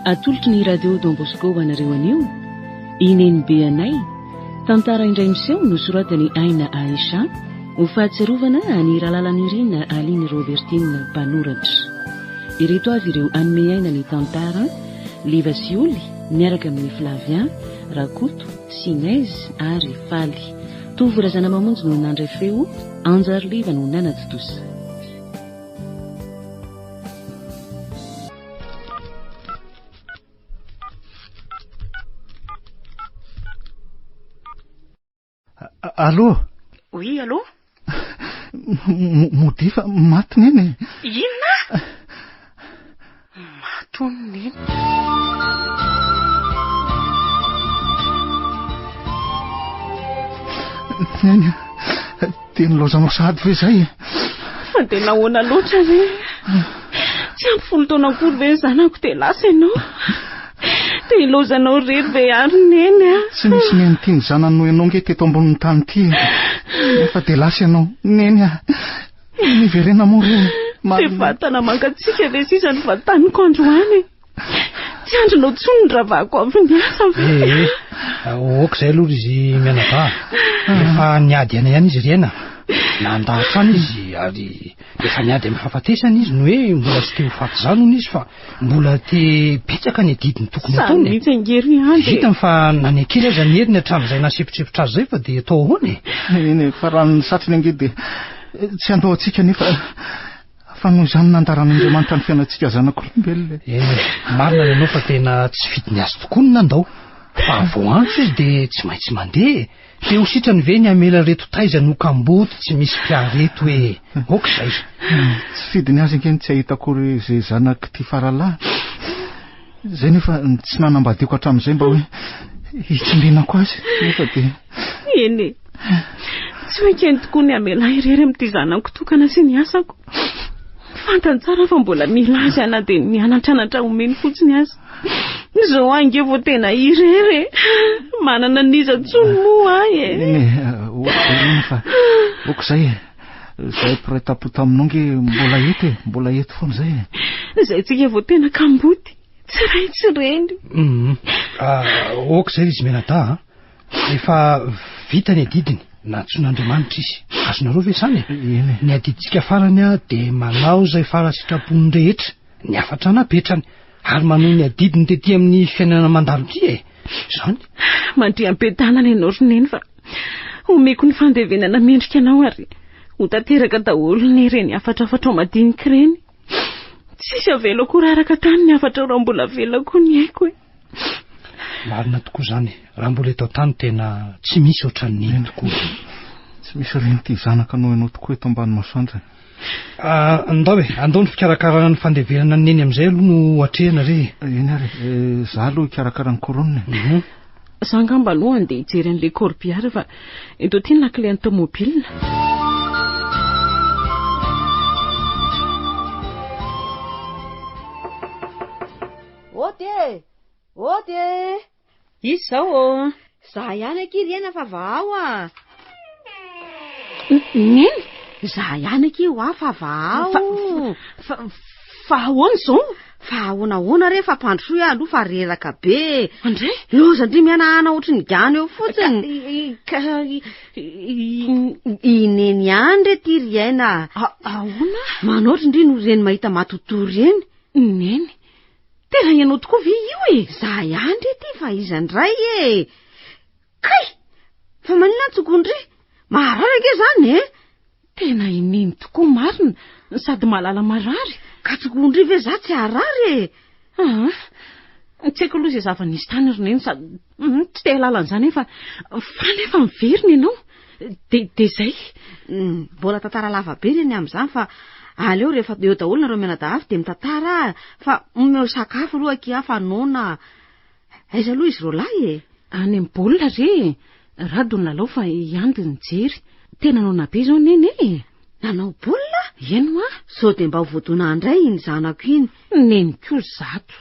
atolotry ny radio Don Bosco ho anareo anio i Nenibe anay tantara indray miseho nosoratany Aina Aisha ho fahatsiarovana any Ralalanirina Aline Robertine mpanoratra ireto avy ireo anome aina ny tantara Liva sy Oly miaraka amin'i Flavien, Rakoto, Sinez ary Faly. Tovo Razanamamonjy no nandray feo, Anjary Liva no nanatontosa. Allô Oui, allô Modia fa maty neny Inona Maty hono neny Neny Dia nilaozanao sahady ve izay e? Fa dia nahoana loatra re? Tsy ampy folo taona akory ve ny zanako dia lasa ianao? Dia ilaozanao irery ve ary neny a? Tsy nisy neny tia ny zanany noho ianao nge teto ambonin'ny tany ity e. Nefa dia lasa ianao. Neny a! Miverena moa re. Dia vatana mangatsiaka ve sisa no vataniko androany e? Tsy andrinao intsony ny ravako avy niasa ve? Eh, eh. ok izay aloha izy mianadahy. Efa niady aina ihany izy ireny ah. Nanda hatrany izy ary efa niady amin'ny fahafatesana izy ny hoe mbola tsy te ho faty izany hono izy fa mbola te betsaka ny adidiny tokony ataony. Samy mihitsy angery andry. Vitany fa nanekely aza ny heriny hatramin'izay nahasipotripotra azy izay fa dia atao ahoana e? Eny, fa raha ny satriny ange dia tsy handoa antsika nefa Fa noho izany nandaran'Andriamanitra ny fiainantsika zanak'olombelona e. Eny, marina ny anao fa tena tsy fidiny azy tokoa ny nandao. Fa vao antso izy dia tsy maintsy mandeha e. Te ho sitrany ve ny hamela ireto taiza no kamboty tsy misy mpiahy ireto hoe ok izay. Tsy fidiny azy ange ny tsy hahita akory izay zanak'ity faralahiny izay nefa tsy nanambadiako hatramin'izay mba hoe hitsindrinako azy nefa dia. Eny e. Tsy ho ekeny tokoa ny hamela irery amin'ity zanako tokana sy ny asako. Fantany tsara fa mbola mila azy aho na dia ny mianatranatra omeny fotsiny aza. Izao ahy ange vao tena irery e. Manana an'iza intsony moa ahy e. Eny e, hoatreroany fa ok izay e. Izahay mpiray tampo taminao ange mbola eto e, mbola eto foana izay e. Izay tsika vao tena kamboty, tsy ray tsy reny. Ah, ok izay izy mianadahy a. Efa vita ny adidiny, nantsoin'Andriamanitra izy. Azonareo ve izany e? Eny. Ny adidintsika farany dia manao izay fara sitrapon'ny rehetra, ny hafatra napetrany, ary manohy ny adidiny tety amin'ny fiainana mandalo ity e. Izany. Mandria am-piadanana ianao ry Neny fa omeko ny fandevenana mendrika anao ary ho tanteraka daholo ny ireny hafatrafatrao madinika ireny. Tsisy avela akory araka tany ny hafatrao raha mbola avela koa ny aiko e. Marina tokoa izany. Raha mbola eto an-tany tena tsy misy ohatran'ny iny tokoa. Tsy misy ohatran'ny ity zanaka anao ianao tokoa eto ambany masoandro e. Ah, ndao e, andao ny fikarakarana ny fandevenana ny neny amin'izay aloha no atrehina re e. Eny ary e, izaho aloha hikarakara ny couronne e. Mhm. Za angamba aloha andeha hijery an'ilay corbillard fa eto aty ny lakilen'ny tomobila. Ody e! Ody e! Izy zao ô! Za ihany akia ry Ena fa vahao a! Neny! Za ihany akia hoa fa vahao! Fa, fa, fa ahoana izao? Fa ahoana ahoana re fa mpandrosoa aloha fa reraka be e! Andry! Loza ndry mihanahana ohatry ny gana eo fotsiny! Ka, ka, i Neny ihany re ty ry Ena! Ahoana? Manaotra ndry no reny mahita matotoa reny! Neny! Tena ianao tokoa ve io e? Za ihany re ty fa iza ndray e? Kay! Fa maninona ny tsokony re? Maharary ange zany e? Tena i Neny tokoa marina, sady mahalala marary. Ka tsokony re ve za tsy harary e? Aa! Tsy haiko aloha izay zava-nisy tany ry Neny sady Tsy te hahalala an'izany aho fa fa nefa miverina ianao. Dia dia izay. Mbola tantara lava be le ny amin'izany fa aleo rehefa eo daholo nareo mianadahavy dia mitantara fa omeo sakafo aloha akia aho fa noana. Aiza aloha izy roalahy e? Any amin'ny baolina re e. Rado ny lalao fa i Andy nijery. Tena noana be izao Neny e. Nanao baolina? Eny hoa. Sao dia mba ho voadona handray iny zanako iny. Neny koa zato.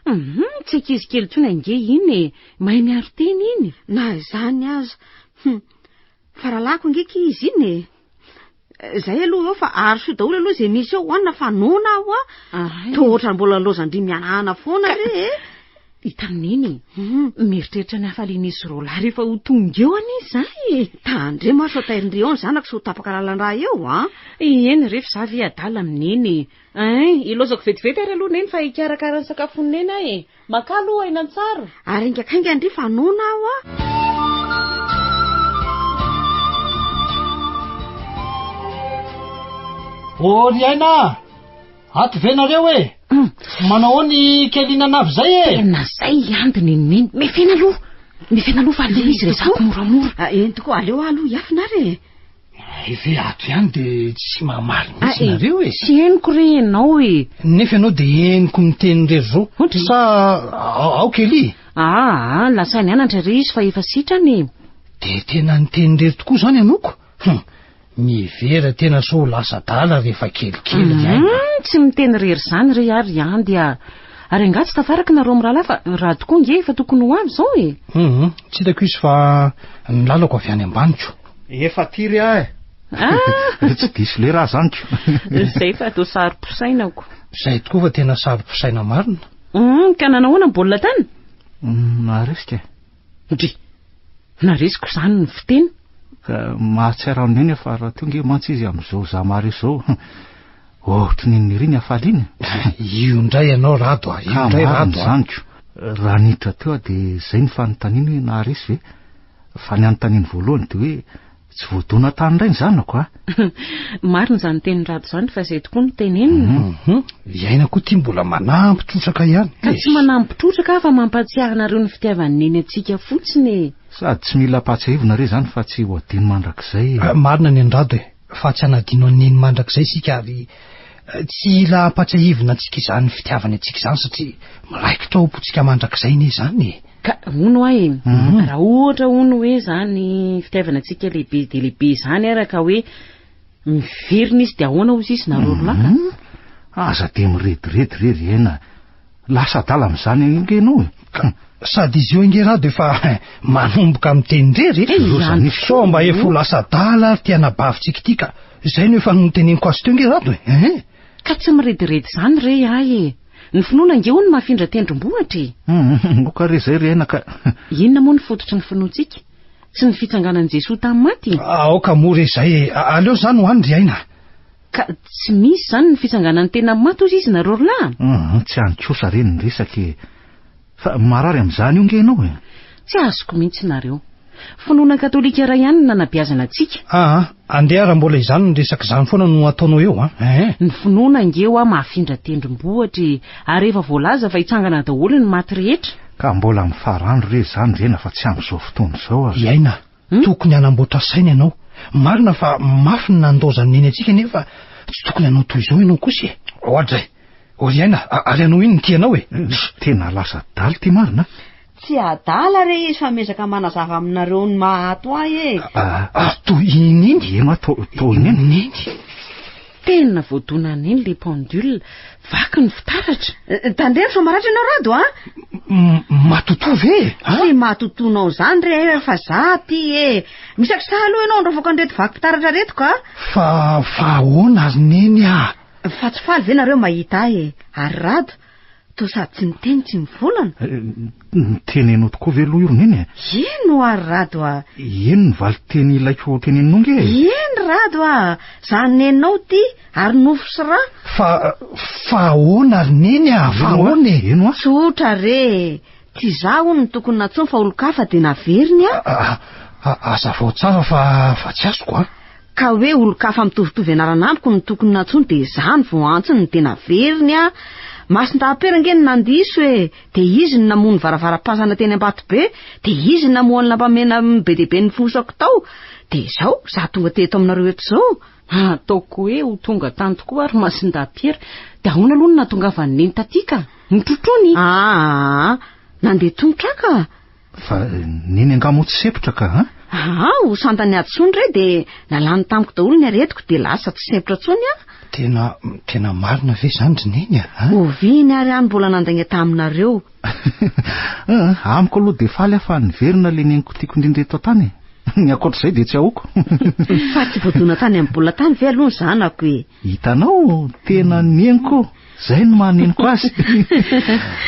Hum tsy ankizy kely intsony ange iny e, mahay miaro tena iny. Na izany aza. Hum fa rahalahiko ange ki izy iny e. Izay aloha eo fa arosoy daholo aloha izay misy eo hoanina fa noana aho a. Toa ohatran'ny mbola laozan-dry mihanahana foana re e. I Taniny, mieritreritra ny hafalian'izy roa lahy rehefa ho tonga eo anie izaho e. Tandremo ary sao tairin-dry eo ny zanako sy ho tapaka lalan-drà eo an. Eny re fa izaho ve adala amin'iny e. Eeh, ilaozako vetivety ary aloha Neny fa hikarakara ny sakafon'i Neny aho e! Makà aloha aina an-tsary! Ary haingankaingana ndry fa noana aho a! O ry aina a! Ato ve nareo e! Manao ahoana i Kelina anavy izay e! Tena izay ihany ry Nenineny! Mefena aloha! Mefena aloha fa aleo izy resahako moramora! Eny tokoa, aleo aho aloha hiafina ary e! Ehe ato ihany de tsy mamaly mihitsy nareo e. Tsy henoko re ianao e. Nefa ianao de henoko miteny irery zao. Sa aoka elie e. Aa lasa nianatra re izy fa efa sitrana e. De tena niteny irery tokoa izany ianoko? Hum, mihevera tena sao ho lasa adala rehefa kelikely ny aina a. Hum, tsy miteny irery izany re ary ihany dia Ary angaha tsy tafaraka nareo mirahalahy fa raha tokoa nge efa tokony ho avy izao e. Hum, tsy hitako izy fa ny lalako avy any ambaniko. Efa tiry aho eh. Ah! Tsy diso lera aho zany ko. Izay fa toa saro-posaina ko. Izay tokoa fa tena saro-posaina marina. Hum, ka nanao ahoana ny baolina tany? Hum, naharesika eh. Ndry! Naharesiko izany ny fiteny. Ka mahatsiaro an'i Neny fa raha tonga mantsy izy amin'izao za maharesy izao. Ohatry ny niry ny hafaliana. Io indray ianao Rado ah, io indray Rado ah. Izany ko. Raha niditra teo aho dia izay ny fanontaniana hoe naharesy ve? Fa ny anontaniany voalohany dia hoe tsy voadona tany indray ny zanako a! Marina izany tenin'i Rado izany fa izay tokoa no tenenina. Mhm. Iaina koa ity mbola manampy trotraka ihany. Ka tsy manampy trotraka aho fa mampahatsiahy anareo ny fitiavan'i Neny antsika fotsiny e! Sady tsy mila ampahatsiahivina re izany fa tsy ho adino mandrakizay e! Marina ny an'i Rado e! Fa tsy hanadino an'i Neny mandrakizay isika ary tsy hila ampahatsiahivina antsika izany fitiavany antsika izany satria miraikitra ao am-pontsika mandrakizay anie izany e! Ka hono hoa e, raha ohatra hono hoe izany fitiavana antsika lehibe dia lehibe izany ara ka hoe miverina izy dia ahoana hozy izy nareo roa lahy ka? Aza dia mirediredy re ry aina, lasa adala amin'izany ange ianao e! Ka sady izy io ange ra dia efa manomboka miteny irery e! Sao mba efa ho lasa adala ary ity anabavintsika ity ka! Izay no efa noteneniko azy teo ange Rado e! Ka tsy mirediredy izany re ahy e! Ny finoana ange hono mahafindra tendrombohitra e! Humm ok re zay ry aina ka. Inona moa ny fototry ny finoantsika? Tsy ny fitsanganan'i Jesoa tamin'ny maty? Aoka moa re zay e! Aleo zany ho any ry aina. Ka tsy misy izany ny fitsanganan'ny tena maty hozy izy nareo rolahy? Humm tsy any kosa re ny resaka e! Fa marary amin'izany io nge ianao e! Tsy azoko mihitsy nareo. Finoana katolika iray ihany no nanabeazana antsika. Aa, andeha raha mbola izany ny resaka izany foana no ataonao eo an! Eeh! Ny finoana ange hoa mahafindra tendrombohitra e! Ary efa voalaza fa hitsangana daholo ny maty rehetra! Ka mbola mifarandro re izany rena fa tsy amin'izao fotoana izao aza. I Aina Tokony hanamboatra saina ianao. Marina fa mafy ny nandaozan'ny neny antsika nefa tsy tokony hanao toy izao ianao kosa e! Ohatra e! Oriana a, ary hanao ino ny tianao e? Tena lasa adala ity marina a! Tsy adala re izy fa miezaka manazava aminareo ny maha ato ahy e! Ary toy i Neny? Ianao atao i Neny? Tena voadona an'iny ilay pendule, vaky ny fitaratra. Tandremo sao maratra ianao Rado a! Matotoa ve e? Tsy matotoanao izany re eh, fa za aty e! Misakisaha aloha ianao handrofoka an'ireto vaky fitaratra reto ka! Fa fa ahoana ry Neny a! Fa tsy faly ve nareo mahita ahy e? Ary Rado? Toa sady tsy niteny tsy nivolana. Notenenao tokoa ve aloha io Roneny e? Eny oa ry Rado a! Eny ny valin-teny ilaiko ho teneninao ange e! Eny Rado a! Zany nenao ty ary nofo sy ra! Fa, fa ahoana ry Neny a! Fa ahoana e! Eny oa! Tsotra re e! Tsy izaho hono no tokony nantsoiny fa olon-kafa dia naveriny an! Hazavao tsara fa fa tsy azoko an! Ka hoe olon-kafa mitovitovy anarana amiko no tokony nantsoiny dia izaho no vao antsony no dia naveriny an! Masin-dahapera ange no nandiso e! Dia izy no namoha ny varavaram-pasana teny Ambatobe, dia izy no namoha ny lampamena be dia be nifohosako tao, dia izao izaho tonga teto aminareo eto izao. Ataoko hoe ho tonga tany tokoa ary Masindahy Pierre, dia ahoana aloha no nahatongavan'ny neny taty ka? Notrotroiny? Aa! Nandeha tongotra ka! Fa neny angaha moa tsy sempotra ka an? Aa! Ho santany Hadson re dia nalany tamiko daholo ny aretiko dia lasa tsy sempotra intsony aho. Tena, tena marina ve izany ry neny a? Oviana ary any mbola nandainga taminareo? Amiko aloha dia faly aho fa niverina ilay neniko tiako indrindra eto an-tany e. Ny ankoatr'izay dia tsy ahoako. Fa tsy voadona tany amin'ny bola tany ve aloha ny zanako e? Hitanao, tena neniko, izay no maha neniko azy.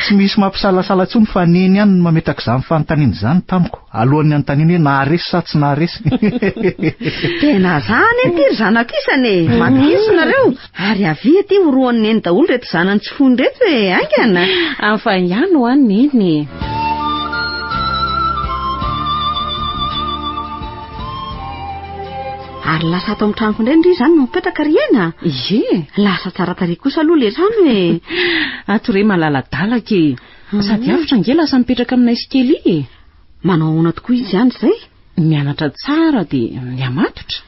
Tsy misy mampisalasala intsony fa neny ihany no mametraka izany fanontaniana izany tamiko, alohan'ny hanontaniany hoe naharesy sa tsy naharesy. Tena zany ity ry zanako isany e! Matokizo nareo! Ary avia aty horohon'i Neny daholo ireto zanany tsy fony ireto e! Haingana! Hafa ihany ho an'i Neny e! Ary lasa ato amin'ny tranoko indray ndry izany no mipetraka ry Hena a! Ie! Lasa tsara tarehy kosa aloha ilay trano e! Ato re malaladalaka e! Sady avotra ange lasa mipetraka aminay sy Kelly e! Manao ahoana tokoa izy andry izay? Ny mianatra tsara dia mihamatotra.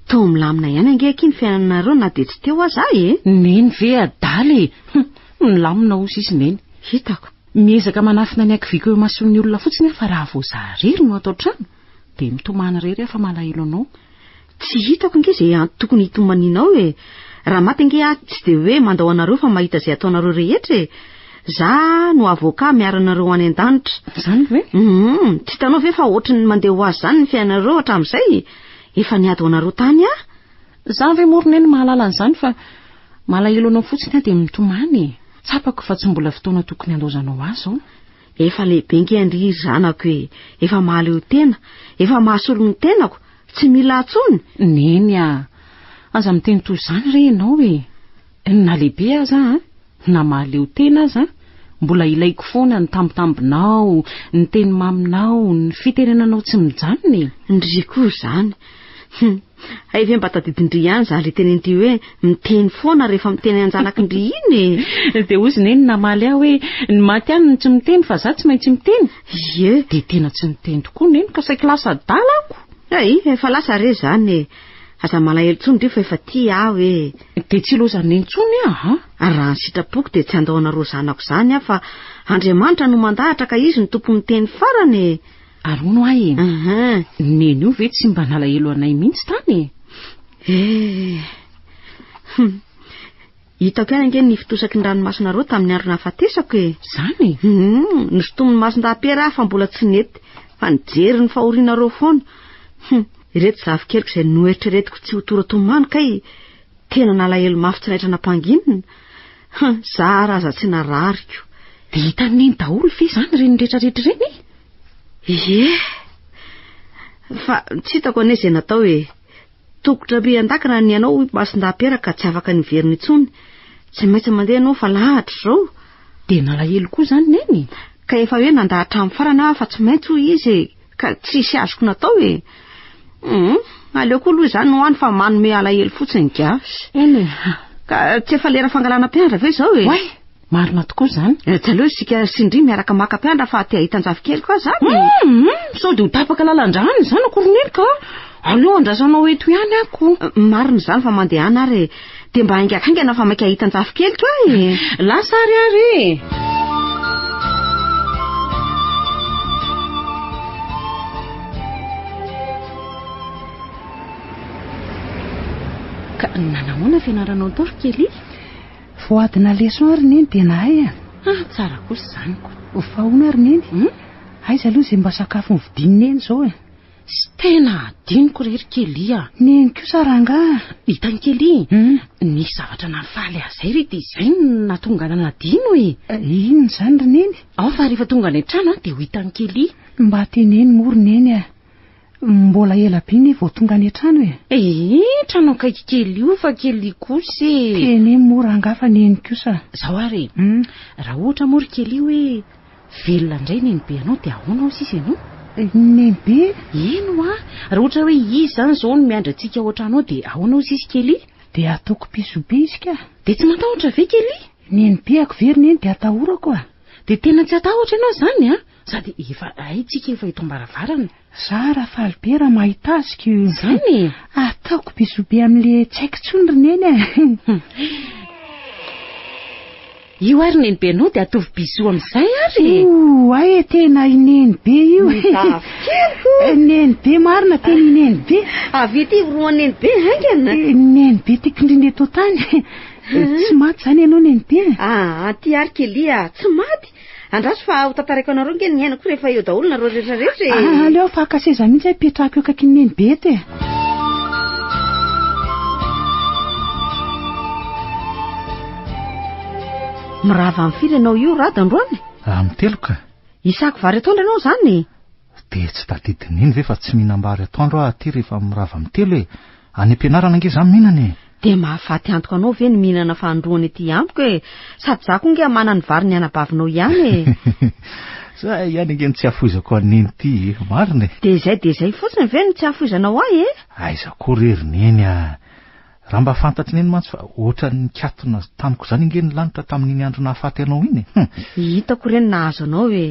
Toa milamina ihany ange akia ny fiainanareo na dia tsy teo aza aho e! Neny ve adala e! Hum, milamina hoy sisa i Neny. Hitako. Miezaka manafina ny hakiviako eo imason'ny olona fotsiny aho fa raha vao izaho irery no ato an-trano dia mitomany irery aho fa malahelo anao. Tsy hitako ange izay antony tokony hitomanianao e! Raha maty ange aho tsy dia hoe mandao anareo fa mahita izay ataonareo rehetra e! Za no avocat miaro anareo any an-danitra. Izany ve? Hum, tsy hitanao ve fa ohatry ny mandeha ho azy izany ny fiainanareo hatramin'izay? Efa niady ho anareo tany aho. Za ve moa ry Neny mahalala an'izany fa malahelo anao fotsiny aho dia mitomany e! Tsapako fa tsy mbola fotoana tokony handaozanao ahy izao. Efa lehibe nge ndry ry zanako e! Efa mahaleo tena, efa mahasolo ny tenako, tsy mila atsony! Neny a! Aza miteny toy izany re ianao e! Na lehibe aza an! Na mahaleo tena aza an! Mbola ilaiko foana ny tambitambinao, ny teny maminao, ny fitenenanao tsy mijanona e! Ndry koa izany! Hum! Hay ve mba tadidin-dry ihany izany ilay tenin-dry hoe miteny foana rehefa miteny an-janakin-dry iny e! Dia hoy izy neny namaly ahy hoe ny maty ihany no tsy miteny fa izaho tsy maintsy miteny? Ie! Dia tena tsy niteny tokoa neny ka saiky lasa adala ako! Hay! Efa lasa re izany e! Aza malahelo intsony ry fa efa tia aho e! Dia tsy hilaozan'i neny intsony aho an! Ary raha ny sitrapoko dia tsy handao anareo zanako izany aho fa Andriamanitra no mandahatra ka Izy no tompon'ny teny farany e! Ary hono ahy e. Ny neny io ve tsy mba nalahelo anay mihitsy tany e. Eh. Hum. Hitako ihany ange ny fitosaky ny ranomasinareo tamin'ny andro nahafatesako e. Zany e. Hum, nosintomin'ny mason-dahapera aho fa mbola tsy nety, fa nijery ny fahorianareo foana. Hum, ireto zavikeliko izay noeritreretiko tsy ho tora-tomany kay tena nalahelo mafy tsy naitra nampanginina. Hum, za ary aza tsy narariko. Dia hitan'i Neny daholo ve izany ireny rehetrarehetra ireny e? Ie. Fa tsy hitako anie izay natao e. Tokotra be an-daka raha ny anao hoy Masindahy-Piera ka tsy afaka niverina intsony. Tsy maintsy mandeha ianao fa lahatra izao. Dia nalahelo koa izany Neny? Ka efa hoe nandà hatramin'ny farany aho fa tsy maintsy hoy izy e. Ka tsisy azoko natao e! Hum, aleo koa aloha izany ho any fa manome alahelo fotsiny gasy. Eny e! Ka tsy efa lera fangalana mpiandra ve izao e? Oay! Marina tokoa izany. Eh, tsy aleo isika sy Ndry miaraka maka mpiandra fa te hahita an-jafikely koa izany. Hum, sao dia ho tapaka lalan-drano izany akoron'ely ka! Aleo andrasanao eto ihany ako. Marina izany fa mandehana ary e! Dia mba haingahaingana fa maika hahita an-jafikeliko aho e! Lasa ary aho re e! Ka nanahoana fianaranao tao ry Kelly? Vao adina leçon aho ry Neny dia nahay an! Ah, tsara kosa izany ko! Fa ahoana ary Neny? Aiza aloha izay mba sakafo novidin'i Neny izao e? Tsy tena adinoko re ry Kelly a! Nino kosa rangahy a! Hitan'i Kelly, nisy zavatra nahafaly ahy izay re dia izay no nahatonga ahy nadino e! Inona izany ry Neny? Ao fa rehefa tonga any an-trano aho dia ho hitan'i Kelly. Mba teneno moa ry Neny a! Mbola ela be anie vao tonga any an-trano e! Ee, trano akaiky Kelly io fa Kelly kosa e! Teneno moa rangahy fa Neny kosa. Izao ary e! Raha ohatra moa ry Kelly hoe. Velona indray nenibe anao dia ahoana hoy sisa ianao? Nenibe? Eny hoa, raha ohatra hoe izy izany izao no miandry antsika ao an-tranonao dia ahoana hoy sisa Kelly? Dia ataoko pisobisika. Dia tsy matahotra ve Kelly? Nenipehako ve ry neny dia atahorako a! Dia tena tsy atahotra ianao izany an! Sady efa haintsika efa eto am-baravarana. Za ra faly be ra mahita azy ko. Zany e. Ataoko bisou be amle tsy haiko tsony ry neny a. Io ary neny be nao de atovy bisou amzay ary e. Oay e tena i neny be io e. Dafikiriko. Neny be marina tena i neny be. Avy ety iroan neny be haingana. Neny be tiako indrindra eto tany. Tsy maty zany ianao neny be. Aa ty ary Kelly a tsy maty Andraso fa ho tantaraiko anareo nge ny hiainako rehefa eo daholo nareo rehetra rehetra e. Ah, aleo faka seza mihitsy aho petrako eo akaikin'i Neny Bety e. Mirava amin'ny firy ianao io Rado androany? Amin'ny telo ka. Hisako vary atoandro ianao izany e? Dia tsy tadidin'iny ve fa tsy mihinam-bary atoandro aho aty rehefa mirava amin'ny telo e! Any am-pianarana ange izaho mihinana e! Dia mahafaty antoka anao ve ny mihinana fahandroany aty amiko e! Sady izaho koa ange hamana ny vary ny anabavinao ihany e! Izahay ihany ange no tsy afoizako an'i Neny ity e! Marina e! Dia izay dia izay fotsiny ve no tsy afoizanao ahy e! Aiza koa re ry Neny a! Raha mba fantatr'i Neny mantsy fa ohatran'ny nikatona tamiko izany ange ny lanitra tamin'iny andro nahafaty anao iny e! Hum! Hitako re ny nahazo anao e!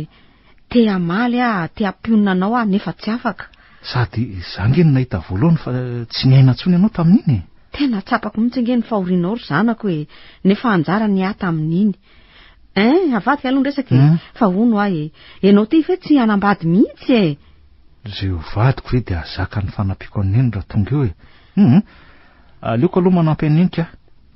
Te hamaly aho, te hampionona anao aho nefa tsy afaka. Sady za nge no nahita voalohany fa tsy niaina intsony ianao tamin'iny e! Tena tsapako mihitsy nge ny fahorianao ry zanako e! Nefa anjara ny ahy tamin'iny. Hein, avadika aloha ny resaka e! Fa hono aho e! Ianao ty ve tsy hanambady mihitsy e! Izay ho vadiko ve dia hahazaka ny fanampiako an'i Neny raha tonga eo e! Hum! Aleoko aloha manampy an'i Neny ka.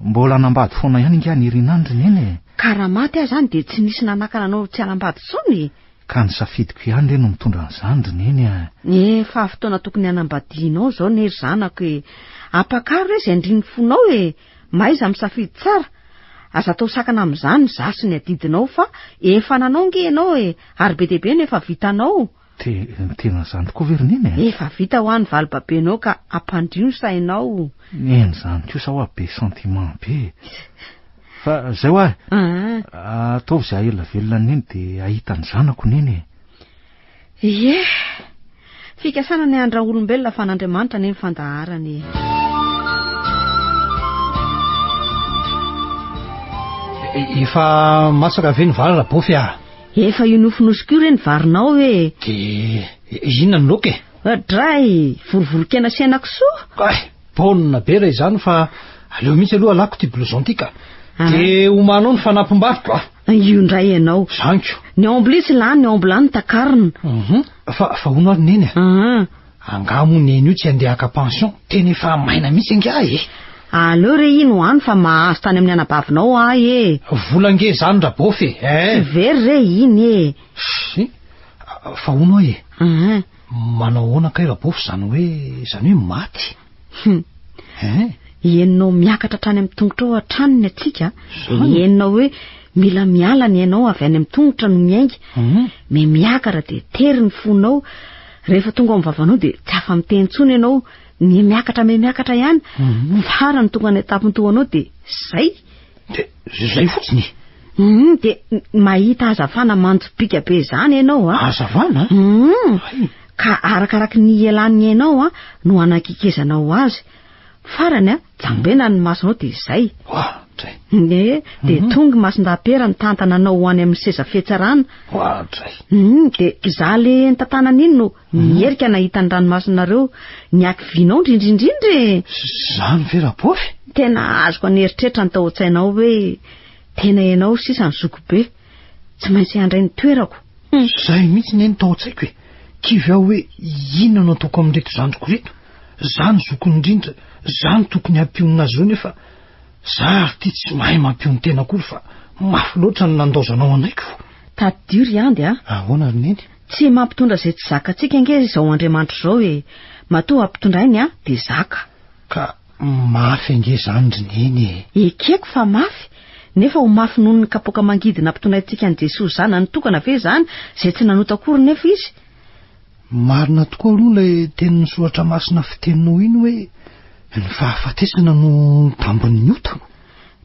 Mbola hanambady foana ihany ingahy Niryna an-dry Neny e! Ka raha maty aho izany dia tsy nisy nanakana anao tsy hanambady intsony e! Ka ny safidiko ihany re no mitondra an'izany ry Neny a! Efa fotoana tokony hanambadianao izao anie ry zanako e! Ampakaro re izay andrin'ny fonao e! Mahaiza misafidy tsara! Aza atao sakana amin'izany izaho sy ny adidinao fa efa nanao ange ianao e! Ary be dia be no efa vitanao! Te, tena izany tokoa ve ry Neny eh? Efa vita hoa ny valibabenao ka ampandrio ny sainao. Neny izany kosa hoa be sentiment be e. Fa izay hoa e. Aa. Ataovy izay hahaela velona an'i Neny dia hahita ny zanako Neny e. Ie. Fikasana ny handra-olombelona fa an'Andriamanitra anie ny fandaharana e. Efa masaka ve ny vary Rabofy ah? Efa io nofonosiko io re ny varinao e! Dia inona ny loka e? Adray! Vorovoron-kena sy henakisoa! Ay! Baolina be raha izany fa aleo mihitsy aloha alako ity blouson ity ka! Ah. Dia homanao ny fanampim-bariko a! Io indray ianao! Zany ko! Ny omby litsy lany, ny omby lany takarina! Mhm. Fa fa hono ary neny a! Ah. Angaha moa neny io tsy handeha haka pension? Tena efa maina mihitsy angaha e! Aleo re ino any fa mahazo tany amin'ny anabavinao ahy e! Vola ange zany Rabaofy e! eh! Tsy very re iny e! Shh! Fa hono aho e! Ehe! Manao ahoana kay Rabaofy izany hoe, izany hoe maty? Hum! Ehe! Henonao miakatra hatrany amin'ny tongotrao hatrany ny hatsiaka, dia henonao hoe mila miala ny ainao avy any amin'ny tongotra no miainga, memiakara dia tery ny fonao, Rehefa tonga ao amin'ny vavanao dia tsy afa-miteny intsony ianao, mihamiakatra mihamiakatra ihany. Mhm. Farany tonga ny etapiny toa anao dia izay. Dia izay fotsiny. Mhm, dia mahita hazavana manjopiaka be izany ianao a. Ah. Hazavana? Mhm. Ka arakaraky ny ielan'ny ianao a no hanakekezanao azy. Farany a, jambena ny masonao dia izay. Oadray. Nge, dia tongy mason-dapera nitantana anao ho any amin'ny seza fihetsarana. Oadray. Hum, dia izaho le nitantanana iny no nierika nahita ny ranomasonareo niaky vinao ndrindrindrindra e! Izany ve Rabofy? Tena azoko an'eritreritra ny tao an-tsainao hoe tena ianao sisa ny zokibe. Tsy maintsy handray ny toerako. Izay mihitsy ne no tao an-tsaiko e. Kivy aho hoe inona no ataoko amin'ireto zandriko ireto. Za no zokiny indrindra, za no tokony hampionona azy ireo nefa za ary ity tsy mahay mampion-tena akory fa mafy loatra ny nandaozanao anay ko. Tadidio ry Andy a! Ahoana ry Neny? Tsy mampitondra izay tsy zakantsika ange izao Andriamanitra izao e. Matoa hampitondray ny ahy dia zaka. Ka Mafy ange zany ry neny e! Ekeko fa mafy, nefa ho mafy noho ny kapoaka mangidy nampitonaintsika an'i Jesoa Zanany tokana ve izany izay tsy nanota akory nefa Izy? Marina tokoa aloha ilay tenin'ny Soratra Masina fiteninao iny hoe ny fahafatesana no tambin'ny ota.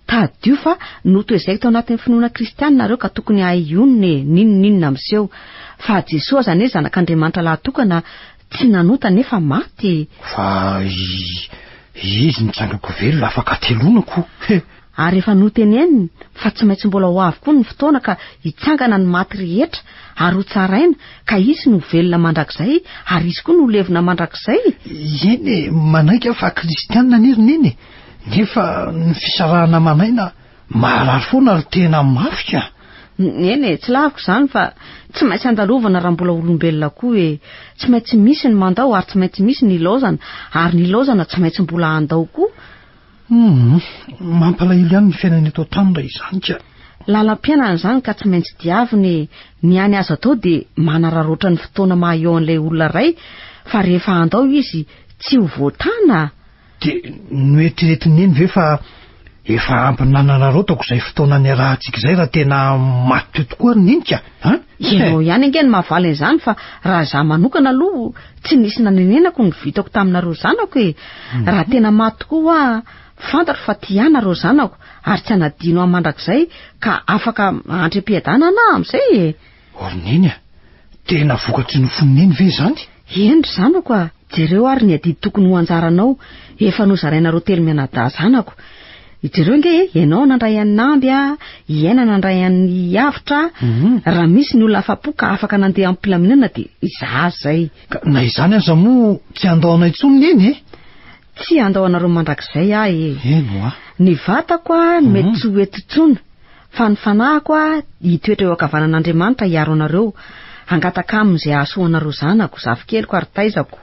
Tadidio fa notoezaiko tao anatin'ny finoana kristiana nareo ka tokony hahay hionona e, n'inon'inona miseho. Fa Jesoa aza anie Zanak'Andriamanitra lahatokana, Tsy nanota nefa maty. Fa i izy nitranga ko velona afaka ateloana ko he. Ary efa noteneniny fa tsy maintsy mbola ho avy koa ny fotoana ka hitsangana ny maty rehetra ary ho tsaraina ka hisy ny ho velona mandrakizay ary hisy koa ny ho levona mandrakizay e! Eny e, manaiky aho fa kristianina anie ry neny e, nefa ny fisarahana aman'aina Maharary foana ry tena mafy ka! Eny e, tsy laviko izany fa tsy maintsy andalovana raha mbola olombelona koa e! Tsy maintsy misy ny mandao ary tsy maintsy misy ny ilaozana, ary ny ilaozana tsy maintsy mbola handao koa! Humm! Mampalahelo ihany ny fiainana eto an-tany raha izany ka! Lalam-piainana izany ka tsy maintsy diavina e! Ny any azo atao dia manararaotra ny fotoana maha-eo an'ilay olona iray fa rehefa handao izy tsy ho voatana! Dia noeritreretin'i Neny ve fa efa ampy nanararaotako izay fotoana niarahantsika izay raha tena maty tokoa ry Neny ka a? Ianao ihany ange no mahavaly an'izany fa raha izaho manokana aloha tsy nisy nanenenako ny vitako taminareo zanako e! Raha tena maty tokoa hoa fantatro fa tia ahy nareo zanako ary tsy hanadino ahy mandrakizay ka afaka handry am-piadanana aho amin'izay e! Or Neny a! Tena vokatry ny fon'i Neny ve izany? Eny ry zanako a! Jereo ary ny adidy tokony ho anjaranao, efa nozarainareo telo mianadahy zanako. Jereo ange e, ianao nandray an'i Namby a, i Aina nandray an'i Avotra a, raha misy ny olona afa-po ka afaka nandeha am-pilaminana dia izaho izay. Ka na izany aza moa tsy handao anao intsony Neny e! Tsy handao anareo mandrakizay aho e! Eny hoa! Ny vatako a, mety tsy ho eto intsony. Fa ny fanahiko aho hitoetra eo ankavanan'Andriamanitra hiaro anareo, hangataka Aminy izay hahasoa anareo zanako, zafikeliko ary taizako.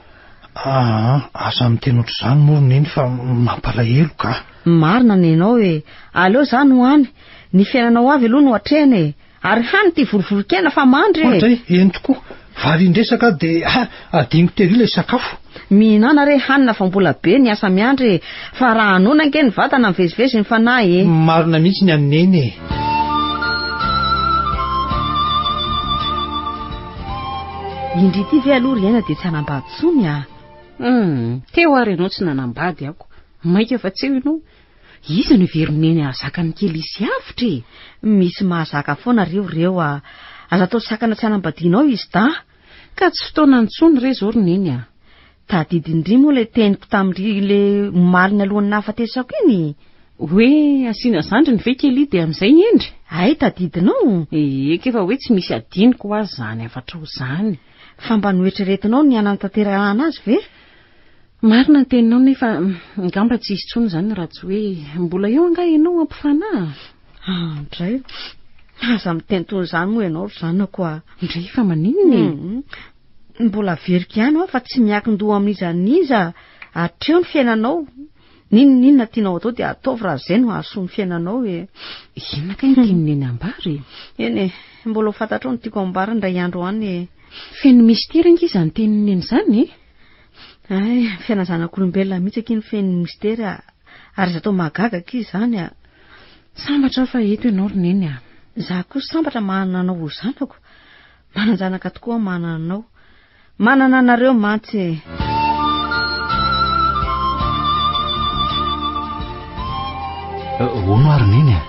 Aa, aza miteny ohatr'izany moa ry Neny fa mampalahelo ka. Marina ny hainao e! Aleo za no any, ny fiainanao avy aloha no atrehina e! Ary hany ity vorovoron-kena fa mandry e! Ohatra e! Eny tokoa! Valin-dresaka dia ha adinoko tery ilay sakafo. Mihinana re hanina fa mbola be ny asa miandry e! Fa raha hanoana ange ny vatana mivezivezy ny fanahy e! Marina mihitsy ny an'i Neny e! Indry ity ve aloha ry Aina dia tsy hanambady tsony a! Hum! Teo ary ianao tsy nanambady ako. Mainka fa tsy eo ianao. Iza no hiverina eny hahazaka ny kely hisy avotra e? Misy mahazaka foana re reo a! Aza atao sakana tsy hanambadiana ao izy da! Ka tsy fotoana intsony re izao ry neny a! Tadidy indry moa ilay teniko tamin'ry le omalin'ny alohan'ny nahafatesako iny e! Hoe asiana zandriny ve kely dia amin'izay hendry? Hay tadidinao? Eka efa hoe tsy misy hadinoko ho azy izany hafatrao izany. Fa mba noeritreretinao ny hanantanterahana azy ve? Marina ny teninao nefa angamba tsy hisy intsony izany raha tsy hoe mbola eo angaha ianao hampifanary? Andray, aza mitenitony izany moa ianao ry zanako a! Ndray fa maninona e? Mbola averiko ihany hoa fa tsy miankin-doha amin'iza n'iza hatreo ny fiainanao, n'inon'inona tianao atao dia ataovy raha izay no hahasoa ny fiainanao e! Inona kay no tian'i Neny hambara e? Eny e, mbola ho fantatrao ny tiako hambara indray andro any e! Feno mystère ange izany tenin'i Neny izany e! Hay, fiainan'ny zanak'olombelona mihitsy akia no feno misitery a! Ary aza atao mahagaga akia izany a! Sambatra aho fa eto ianao ry Neny a! Izaho koa sambatra manana anao ho zanako. Manan-janaka tokoa aho manana anao. Manana anareo mantsy e! Hono ary Neny a!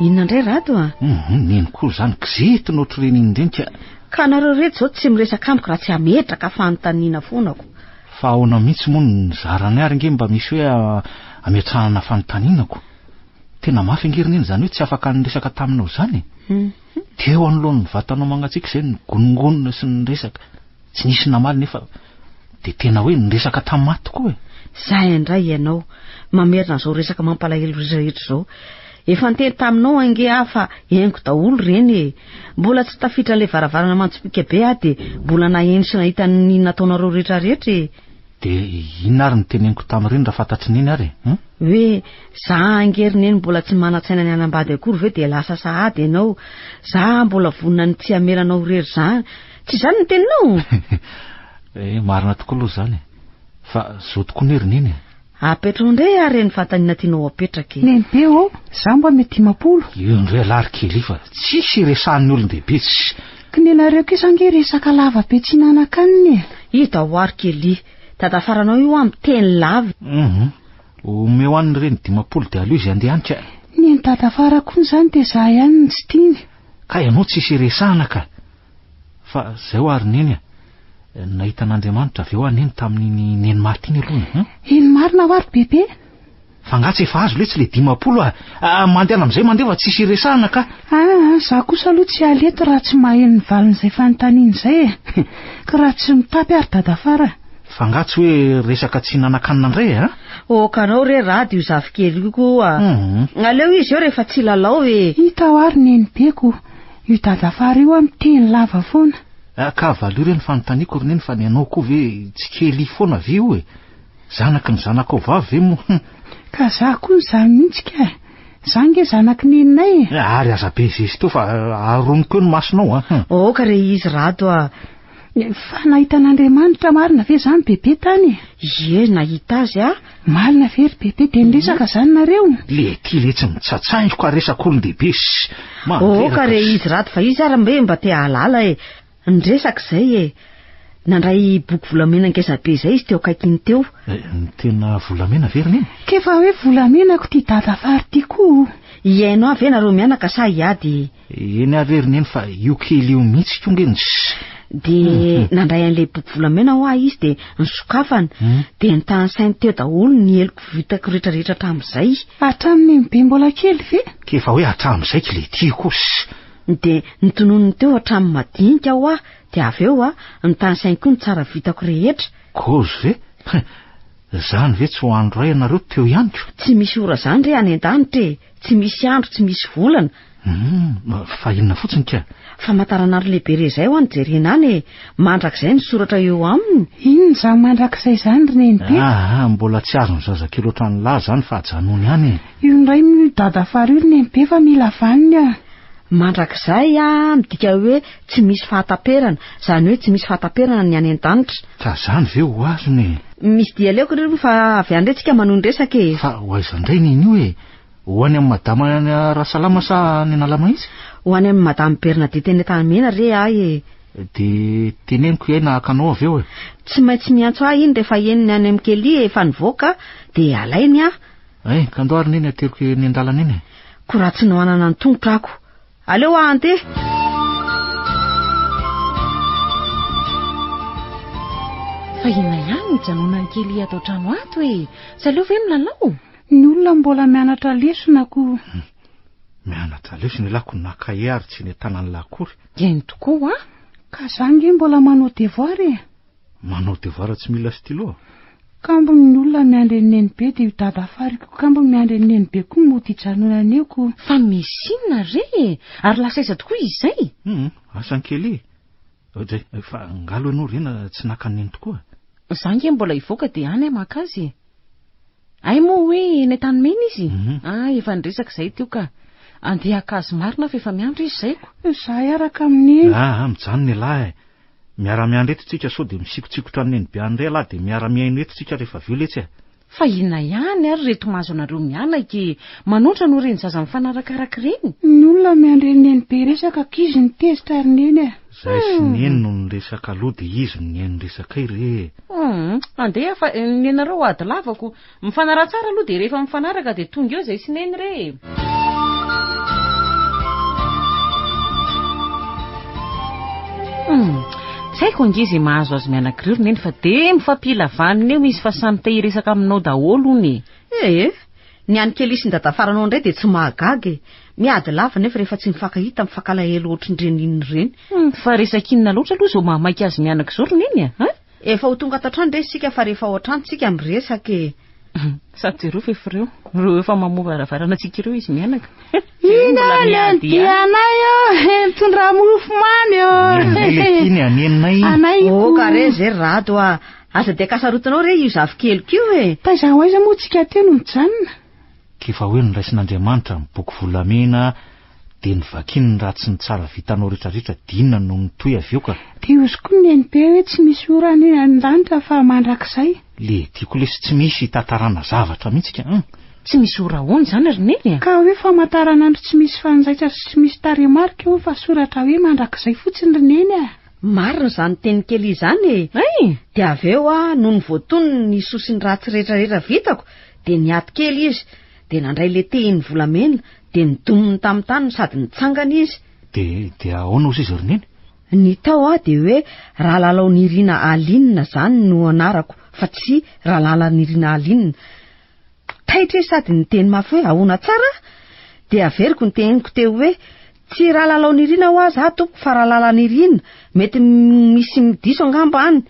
Inona indray Rado a? Neny koa izany, kizitina ohatr'ireny iny indreny ka! Ka nareo reto zao tsy miresaka amiko raha tsy ametraka fanontaniana foana ko. Fa ahoana mihitsy moa no nizarany ary nge mba misy hoe ametrahana fanontaniana ko. Tena mafy ange ry neny izany hoe tsy afaka niresaka taminao izany e. Dia eo anoloan'ny vatanao mangatsiaka izay nigonongonona sy niresaka. Tsy nisy namaly nefa dia tena hoe niresaka tamin'ny maty koa e. Zay indray ianao mamerina izao resaka mampalahelo rehetra izao. Efa niteny taminao ange aho fa henoko daholo ireny e! Mbola tsy tafiditra an'ilay varavarana mantsipika be aho dia mbola naheno sy nahita ny nataonareo rehetrarehetra e! Dia inona ary no teneniko tamin'ireny raha fantatry neny ary e? Hum? Hoe, za ange ry neny mbola tsy manan-tsaina ny hanambady akory ve dia lasa sahady ianao? Za mbola vonona ny tsy hamela anao irery izany. Tsy izany ny teninao? Eh, marina tokoa aloha izany e! Fa zo tokoa anie ry neny e! Apetraho ndray ary ny fatanina tianao apetraka e! Lehibe ô! Za mba mety dimapolo. Io ndray alary kely fa tsisy iresahan'ny olon-dehibe tsy. K'nenareo kosa ange resaka lava be tsy hihinanankanina e! I Dahoary Kelly. Dada faranao io an miteny lava e! Humm. Omeo an'i Reny dimapolo dia aleo izy handeha any ka! Nen'i Dada Fara koa izany dia za ihany no tsy tiany. Kay anao tsisy iresahana ka! Fa zay hoa ry neny a! Nahita an'Andriamanitra avy eo hoa neny tamin'iny neny maty iny aloha e! Eny marina hoa ry bebe! Fa nga tsy efa azo letsy le dimampolo a! Ah, mandeana amizay mandeha fa tsisy iresahana ka! Ah, za kosa aloha tsy hiala eto raha tsy maheno ny valin'izay fanontaniana izay e! Ka raha tsy mitapy ary dadafara a! Fa nga tsy hoe resaka tsy hihinanankanina ndray e! Ah! Oh, ka anao re rad io zafikely io koa! Nga aleo izy eo rehefa tsy hilalao e! Hita hoa ry nenibeko! Io dadafara io an miteny lava foana. Ah ka valio re ny fanontaniako ry neny fa ny anao koa ve tsy kely foana ve io e? Zanaky ny zanakao vavy ve moa hum. Ka za koa izany mihitsy ka e! Za nge zanaky neninay e! Ary aza be zesta eo fa aroniko eo ny masonao a hum. Aoka re izy Rado a! Fa nahita an'Andriamanitra marina ve izany bebe tany e? Ie, nahita azy aho. Marina ve ry bebe, dia niresaka izany nareo? Le ty le tsy mitsatsaingoka ary resaka olon-dehibe sy mandreraka. Oh ka re izy rad fa izy ary mbe mba te hahalala e. Niresaka izay e. Nandray boky volamena ngeza be izay izy teo akaikiny teo. Ny tena volamena ve ry neny? K'efa hoe volamenako ty dada fary ty koa o. Hihaino ahy ve nareo mianaka sa hiady e? Eny ary ry neny fa io kely io mihitsy ko nge ny dia nandray an'ilay boky volamena hoa izy dia nisokafana hmm. dia nitany sainy teo daholo ny heloko vitako rehetrarehetra hatramin'izay hatramin'ny mbe mbola kely ve ke efa hoe hatramin'izay kle tia kosy dia nitononony teo hatramin'ny madinika hoa dia avy eo a nitany sainy koa ny tsara vitako rehetra kozy ve zany ve tsy ho andro ray ianareo teo ihany ko tsy misy ora zany re any an-danitra e tsy misy andro tsy misy volana Humm, fa inona fotsiny ka? Famantaranandro lehibe re izay ho an'i Jerena any e! Mandrakizay ny soratra eo aminy! Inona izany mandrakizay izany ry Nenipeko? Ah ah, mbola tsy azon'ny zazakely ohatran'ny lahy izany fa ajanony any e! Io indray moa io dada fara io ry Nenibe fa mila vaniny an! Mandrakizay ah, midika hoe tsy misy fahataperana, izany hoe tsy misy fahataperana ny any an-danitra. Ka izany ve ho azony e! Misy dia aleoko ry roa fa avy any re tsika manohy ny resaka e! Fa ho aiza indray neny io e! Ho any amin'i madama any Rasalama sa any Analamahitsy? Ho any amin'i madame Bernadette eny Antanimena re ahy e! Dia teneniko ihay na haka anao avy eo e! Tsy maintsy miantso ahy iny rehefa henony any amin'i Kelly efa nivoaka dia alainy aho. Ein, kandao ary neny ateriko eny an-dalana eny e! Ko raha tsy nohanana ny tongotra ako! Aleo aho handeha! Fa inona ihany no hijanonan'i Kelly ato an-trano ato e! Tsy aleo ve milalao? Ny olona mbola mianatra lesona akoho. Mianatra lesona elah ko na cahier ary tsy netananlah akory. Eny tokoa a! Ka za nge mbola manao devoir e! Manao devoir tsy mila stylo? Kambony ny olona miandry an'i neny be dia io dada fary ko kambony miandry an'i neny be ko mody hijanonany eo ko. Fa misy inona re e! Ary lasa aiza tokoa izay? Hum, asa an'i Kelly e! Oday, fa nga aloha ianao Rena tsy naka an'i neny tokoa? Za nge mbola hivoaka dia any aho maka azy e! Hay moa hoe eny an-tanimena izy? Ah, efa niresaka izahay teo ka. Andeha haka azy marina fa efa miandry izy izay ko. Izahay araka amin'ny. Ah, ah, mijanona ialahy eh. Miara-miandry eto isika sao dia misikotsikotra an'i Neny be any indray ialahy dia miara-mihaino eto isika rehefa avy eo letsy eh. Fa inona ihany ary ireto mahazo anareo mianaka e! Manondrana oe reny zaza mifanarakaraka ireny? Ny olona miandry an'i Neny be hiresaka aky izy no tezitra ry Neny eh. Zay sy Neny no niresaka aloha de izy no nihaino ny resakay re e! Humm andeha fa nenareo ady lavako. Mifanaraha tsara aloha dia rehefa mifanaraka dia tonga eo Zay sy Neny re e! Humm tsy haiko ange izay mahazo azy mianakireo ry Neny fa dia mifampila vaniny eo izy fa samy te hiresaka aminao daholo hono e! Ee, ny an'i Kelly sy ny dadafaranao indray dia tsy mahagaga e! Miady lava nefa rehefa tsy mifankahita mifankalahelo ohatrin'ireny inona ireny. Humm fa resaka inona loatra aloha izao mahamaika azy mianaka izao ry Neny a! Efa ho tonga ato an-trano re isika fa rehefa ao an-trano tsika miresaka e! Sady jereo fa efa ireo ireo efa mamoha varavarana antsika ireo izy mianaka. Jereo mbola miady ihany. Inona le dia anay ô he mitondra mofo mamy ô he he he. Iny anay le tiany anay. Ô ka re izay ry Rado a! Aza dia kasarotinao re io zafikely ko e! Taiza ho aiza moa tsika teo no mijanona? K'efa hoe noraisin'Andriamanitra ny boky volamena dia ny vakiny ny ratsy sy ny tsara vitanao retraretra dia inona no mitohy avy eo ka. Dia ozy koa ny NB hoe tsy misy ora any an danitra fa mandrakizay. Le tiako lesy tsy misy hitatarana zavatra mihitsy ka an! Tsy misy ora ahoana izany ry Neny a? Ka hoe famantaranandro tsy misy fanjaitra sy tsy misy tarehimarika eo fa soratra hoe mandrakizay fotsiny ry Neny a! Marina izany teny kely izany e! Dia avy eo aho nony voatonony ny soa sy ny ratsy retraretra vitako Dia niato kely izy, dia nandray ilay tehiny volamena, dia nidominy tamin'ny tany sady nitsangana izy. Dia, dia ahoana ozy izy ry Neny? Ny tao aho dia hoe Rahalalao Nirina Aline izany no anarako fa tsy Ralala Nirina Aline. Taitra izy sady niteny mafy hoe ahoana tsara aho? Dia averiko ny tehiniko teo hoe Tsy Ralalao Nirina hoa za tompoko fa Ralala Nirina, mety misy diso angamba any.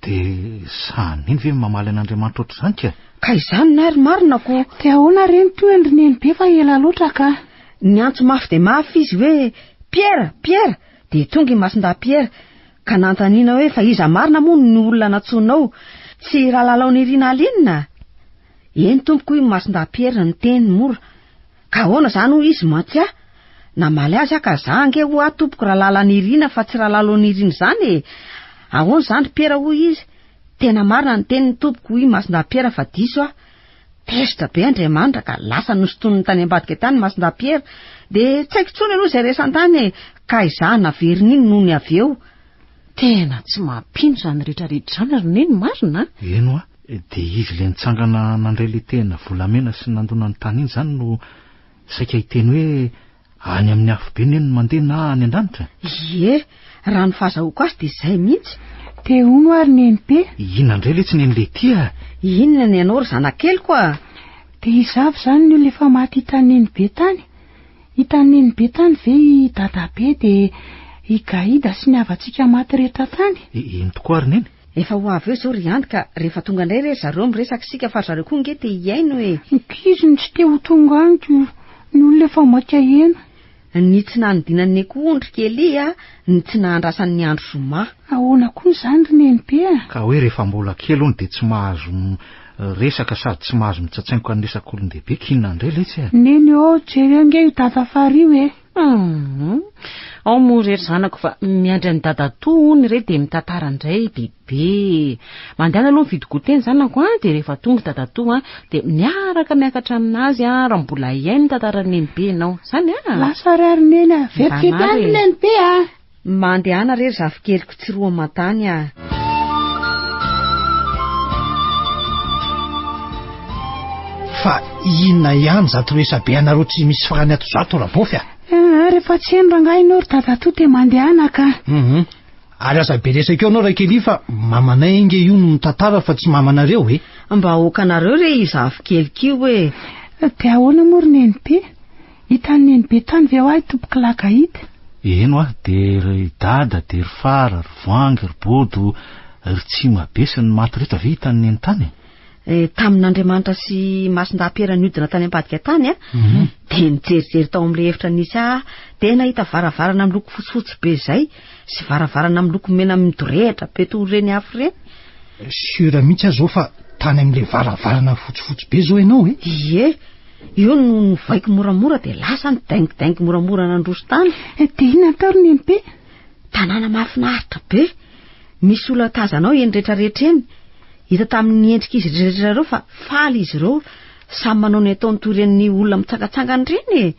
Dia sahy mino ve ny mamaly an'Andriamanitra ohatr'izany ka? Ka izany ny ahy ry marina ko! Dia ahoana re ny tohiny ry nenibe fa ela loatra ka! Niantso mafy dia mafy izy hoe, Piera! Piera! Dia tonga i Masindahy Piera ka nanontaniana hoe fa iza marina moa no olona nantsoinao? Tsy i Ralalao Nirina Alinona? Eny tompoko hoy i Masindahy Piera niteny mora. Ka ahoana izany hoy izy mantsy aho namaly azy aho ka za ange ho'a tompoko Ralalanirina fa tsy Ralalonirina izany e! Ahoana izany Piera hoy izy Tena marina ny teniny tompoko hoy Masindahy-Piera fa diso aho Tezitra be Andriamanitra ka lasa nosintoniny tany ambadika tany Masindahy-Piera dia tsy haiko intsony aloha izay resany tany e! Ka izaho naveriny iny nony avy eo Tena tsy mampino izany rehetrarehetra izany ry Neny marina a! Eny hoa! Dia izy ilay nitsangana nandray ilay tehina volamena sy nandona ny tany iny izany no saika hiteny hoe any amin'ny afobe ny eny no mandeha na any an-danitra? Ie, raha ny fahazahoako azy dia izay mihitsy. Te ho no ary nenimpe? Inona indray letsy neny Letia? Inona ny anao ry zanak'keliko a? Dia izaho ve izany ny olona efa maty hitan'i nenibe tany? Hitan'i nenibe tany ve i dadabe dia i Gaïda sy ny havantsika maty rehetra tany? Eny tokoa ary neny. Efa ho avy eo izao ry Andy ka rehefa tonga indray re ry zareo miresaka isika fa ry zareo koa ange te hihaino e! Nkizy no tsy te ho tonga any ko ny olona efa maika heno. Ny tsy nanodinan'ny akoho ondry kely a! Ny tsy nahandrasan'ny andro zoma. Ahoana koa izany ry Nenibe a! Ka hoe rehefa mbola kely hono dia tsy mahazo miresaka sady tsy mahazo mitsatsaingoka ny resak'olon-dehibe k'inona ndray letsy e! Neny ô, jereo ange io dada Fary io e! Humm. Ao moa re ry zanako fa miandry an'i dadatoa hono re dia mitantara indray bebe. Mandehana aloha mividy goûter ny zanako an dia rehefa tonga dadatoa dia miaraka miakatra amin'azy raha mbola hihaino ny tantaran'i nenibe ianao. Izany an? Lasa ary ary neny an. Very fety any ry nenibe an. Mba andehana re ry zafikeliko tsy roa aman-tany a! Fa inona ihany izato resabe anareo tsy misy farany ato izato Rabofy a! Eeh rehefa tsy eny rangahy ianao ry dadatoa dia mandehana ka! Hum ary aza be resaka eo ianao Rakelia fa mamanay ange io no mitantara fa tsy mamanareo e! Mba aokanareo re io zafikeliko io e! Dia ahoana moa ry nenipy? Hitan'i Neny be tany ve ho ahy tompoko lahy ka hita? Eny hoa, dia ry Dada, dia ry Fara, ry Voangy, ry Bodo, ry Tsimabe sy ny maty rehetra ve hitan'i Neny tany? Eh, tamin'Andriamanitra sy Masindahy Piera niodina tany am-padika tany aho, dia nijerijery tao amin'ilay efitra nisy ahy aho, dia nahita varavarana miloko fotsifotsy be izay, sy varavarana miloko mena midorehitra be toy ireny afo ireny. Sura mihitsy aho zao fa tany amin'ilay varavarana fotsifotsy be zao ianao e? Ie, eo no novaiko moramora dia lasa ny daingidaingy moramora nandroso tany. Eh, dia inona atao ry Nempe? Tanàna mahafinaritra be. Misy olona tazanao eny rehetra rehetra eny. Hita tamin'ny endrik'izy rehetra ireo fa faly izy ireo, samy manao ny ataony toy ireny olona mitsangatsangana ireny e.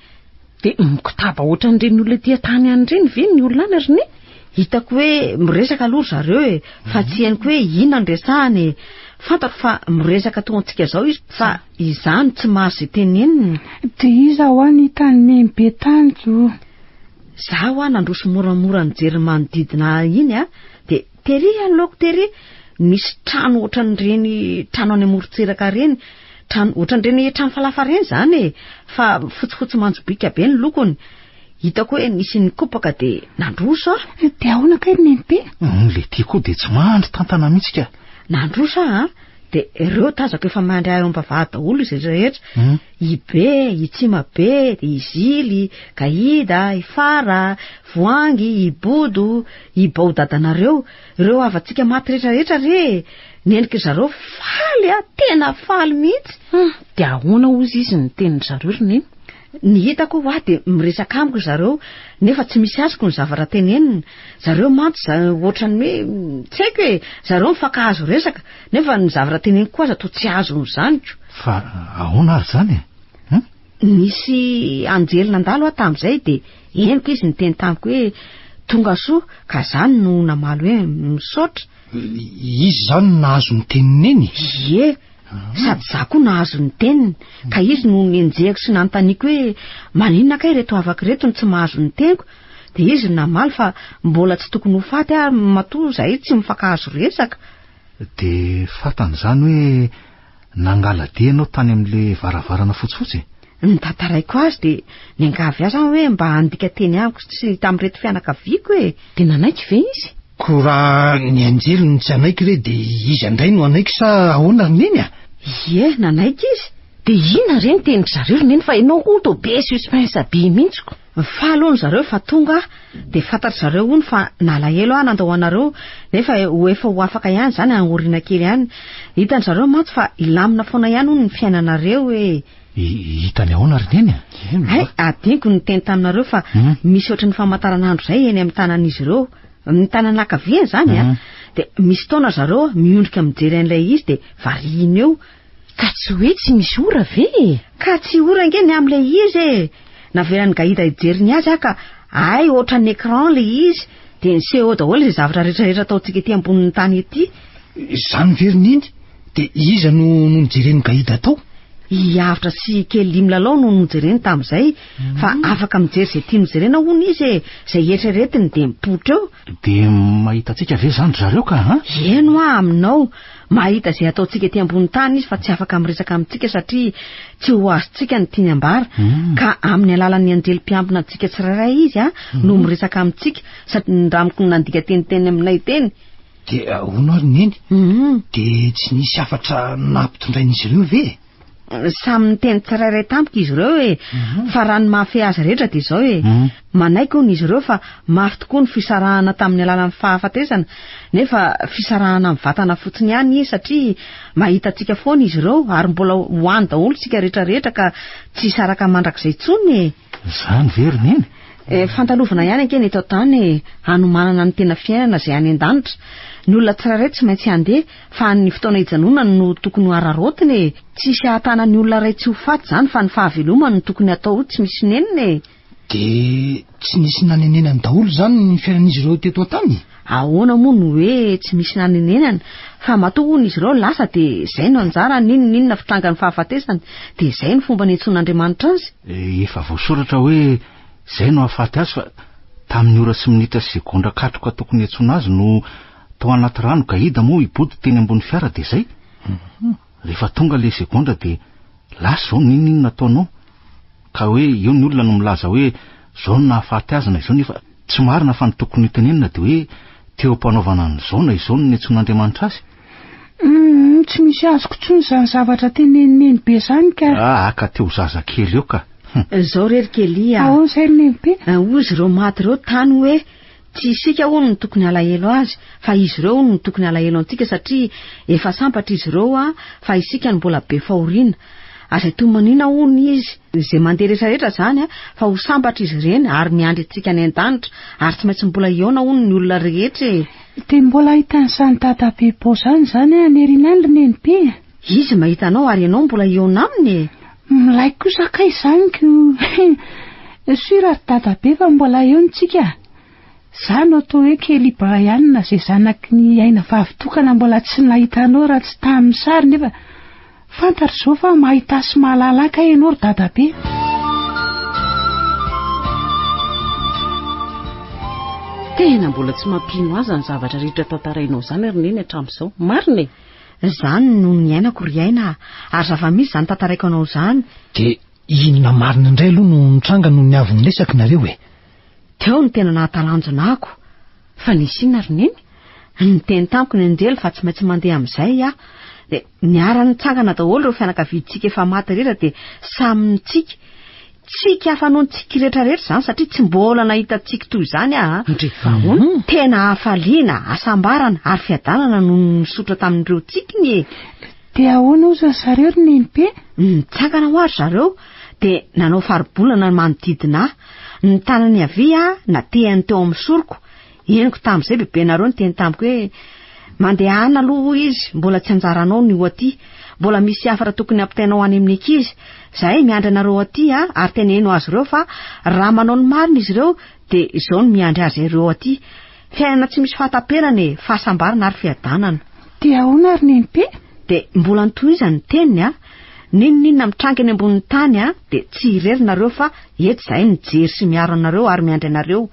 Dia mikotaba ohatran'ireny olona ety an-tany any ireny ve ny olona any ry ne? Hitako hoe miresaka aloha ry zareo e, fa tsy henoko hoe inona no resahany e. Fantatro fa miresaka toa antsika izao izy, fa izany tsy mahazo izay teneniny. Dia iza hoa ny hitan'i Neny be tany o? Izaho hoa nandroso moramora nijery ny manodidina ahy iny a, dia. Tery aloako tery misy trano ohatran'ireny trano any amorontsiraka ireny, trano ohatran'ireny trano falafa ireny izany e, fa fotsifotsy manjobiaka be ny lokony. Hitako hoe nisy nikopaka dia nandroso aho. Dia ahoana kay ry Nenibe? Humm le ty koa dia tsy mandry tantana mihitsy ka. Nandroso aho an, dia ireo tazako efa mandry ahy ao am-bavahady daholo izay rehetra. i Be, i Tsimabe, i Zily, Gaida, i Fara, Voangy, i Bodo, i Bao dadanareo, ireo havantsika maty rehetrarehetra re e! Nendrik'i zareo faly a, tena faly mihitsy. Hum, dia ahoana hozy izy ny tenin'i zareo ry Neny? Ny hitako hoa dia miresaka amiko ry zareo nefa tsy misy azoko ny zavatra teneniny. Zareo mantsy za- ohatran'ny hoe tsy haiko e, zareo mifankahazo resaka. Nefa ny zavatra teneniko aza toa tsy azony zaniko. Fa ahoana ary izany e? Hum? Nisy anjely nandalo aho tamin'izay dia henoko izy niteny tamiko hoe tonga soa ka izany no namaly hoe misaotra. Izy izany no nahazo ny tenin'i Neny? Ie, sady izaho koa nahazo ny teniny, ka izy no nenjehiko sy nanontaniako hoe maninona kay ireto havako ireto no tsy mahazo ny teniko, dia izy no namaly fa mbola tsy tokony ho faty aho matoa izahay tsy mifankahazo resaka. Dia fantany izany hoe nangala-dia ianao tany amin'ilay varavarana fotsifotsy e? Ny tantaraiko azy dia niangavy ahy izany hoe mba handika teny amiko sy tamin'ireto fianakaviako e. Dia nanaiky ve izy? Koa raha ny anjely no tsy hanaiky re dia iza indray no hanaiky sa ahoana ry Neny a? Ie, nanaiky izy. Dia inona re ny tenin-dry zareo ry Neny fa ianao hono toa be suspens be mihitsy ko. Nifaly hono zareo fa tonga aho dia fantatry zareo hono fa nalahelo aho nandao anareo nefa ho efa ho afaka ihany izany aoriana kely ihany. Hitan-dry zareo mantsy fa hilamina foana ihany hono ny fiainanareo e! Hitany ahoana ry Neny a? Hay, adinoko ny niteny taminareo fa misy ohatry ny famantaranandro izay eny amin'ny tanan'izy ireo. Ny tanana ankaviany izany an, dia misy fotoana ry zareo miondrika mijery an'ilay izy dia variana eo. Ka tsy hoe tsy misy ora ve e? Ka tsy ora ange ny amin'ilay izy e! Navelan'i Gaida hijery ny azy aho ka hay ohatran'ny écran ilay izy dia niseho daholo izay zavatra rehetrarehetra ataontsika ety ambonin'ny tany ety. Izany ve ry Neny? Dia iza no nojeren'i Gaida tao? I Avotra sy i Kelly milalao no nojereny tamin'izay, fa afaka mijery izay tiany jerena hono izy e! Izay eritreretiny dia mipoitra eo. Dia mahita antsika ve izany ry zareo ka an? Eny hoa aminao. Mahita izay ataontsika ety ambony tany Izy fa tsy afaka miresaka amintsika satria tsy ho azontsika ny tiany ambara, ka amin'ny alalan'ny anjely mpiambina antsika tsirairay Izy no miresaka amintsika satria nindramiko ny nandika teniteny aminay teny. Dia hono ary Neny, dia tsy nisy hafatra nampitondrain'izy ireo ve? samy niteny tsirairay tamiko izy ireo e fa raha ny mahafehy azy rehetra dia izao e manaiky hono izy ireo fa mafy tokoa ny fisarahana tamin'ny alalan'ny fahafatesana nefa fisarahana amin'ny vatana fotsiny ihany izy satria mahita antsika foana izy ireo ary mbola ho any daholo isika rehetra rehetra ka tsy hisaraka mandrakizay intsony e Izany ve ry neny? Eh, fandalovana ihany ange ny eto an-tany e, hanomanana ny tena fiainana izay any an-danitra. Ny olona tsirairay tsy maintsy handeha, fa ny fotoana hijanonany no tokony ho araraotina e. Tsy hisy hahatana ny olona iray tsy ho faty izany fa ny fahavelomany no tokony hatao ho tsy misy nenina e. Dia tsy nisy nanenenany daholo izany ny fiainan'izy ireo teto an-tany? Ahoana moa no hoe tsy misy nanenenana fa matoa hono izy ireo lasa dia izay no anjarany, inona na inona fitrangan'ny fahafatesany dia izay no fomba niantsoan'Andriamanitra azy? Efa voasoratra hoe izay no hahafaty azy fa tamin'ny ora sy minitra sy segondra katroka tokony hiantsoana azy no tao anaty rano Gaida moa i Body teny ambony fiara dia izay? Rehefa tonga le segondra de lasa zao ninin nataonao ka hoe eo ny olona no milaza hoe zao no nahafaty azy na izao nefa tsy marina fa ny tokony ho tenenina de hoe teo ampanaovana an'izao na izao no niantsoan'Andriamanitra azy. Humm tsy misy azoko intsony zany zavatra teneniny be zany ka. Ah aka teo zaza kely eo ka. Hum. Zao re ry Kelly a. Ahoana zay ry Nenibe? Hozy reo maty reo tany hoe. Tsy isika hono no tokony halahelo azy fa izy ireo hono no tokony halahelo antsika satria efa sambatra izy ireo a fa isika no mbola be fahoriana. Aza itomaniana hono izy izay mandeha rehetra rehetra izany a fa ho sambatra izy ireny ary miandry antsika any an-danitra ary tsy maintsy mbola hihaona hono ny olona rehetra e. Dia mbola ahitany zany dada be bôzany zany any Rinal ry nenim-py e. Izy mahita anao ary ianao mbola hihaona aminy e. Milay kosa kay izany ko! He! Sûr ry dadabe fa mbola eo ny tsika a! Za no atao hoe Kelly Brian izay zanaky ny aina vavy tokana mbola tsy nahita anao raha tsy tamin'ny sary nefa fantatro izao fa mahita sy mahalala ahy kay ianao ry dadabe a! Tena mbola tsy mampino azy izany zavatra rehetra tantarainao izany ry neny hatramin'izao. Marina e! Izany no niainako ry Aina a! Ary zava-misy izany tantaraiko anao izany. Dia inona marina indray aloha no nitranga nony avy niresaka nareo e? Teo no tena nahatalanjona ako. Fa nisy inona ry Neny? Niteny tamiko ny anjely fa tsy maintsy mandeha amin'izay aho. Dia niara-nitsangana daholo ireo fianakaviantsika efa maty rehetra dia samy nitsiky. Tsiky hafa noho ny tsiky rehetra rehetra izany satria tsy mbola nahita tsiky toy izany aho. Ndry fa hono. Tena hafaliana, hasambarana ary fiadanana no nisotra tamin'ireo tsikiny e! Dia ahoana ozy ry zareo ry Nenibe? Nitsangana hoa ry zareo dia nanao faribolana ny manodidina ahy. Ny tanany havia natehan'ny teo amin'ny soroko. Henoko tamin'izay bebenareo niteny tamiko hoe, Mandehana aloha hoy izy, mbola tsy anjaranao ny ho aty. Mbola misy hafatra tokony hampitainao any amin'ny ankizy. Izahay miandry anareo aty an, ary teneno azy ireo fa raha manao ny marina izy ireo dia izao no miandry azy ireo aty. Fiainana tsy misy fahataperana e, fahasambarana ary fiadanana. Dia ahoana ary Nenibe? Dia mbola nitohizany ny teniny an, N'inon'inona mitranga eny ambonin'ny tany a, dia tsy irery nareo fa eto izahay mijery sy miaro anareo ary miandry anareo,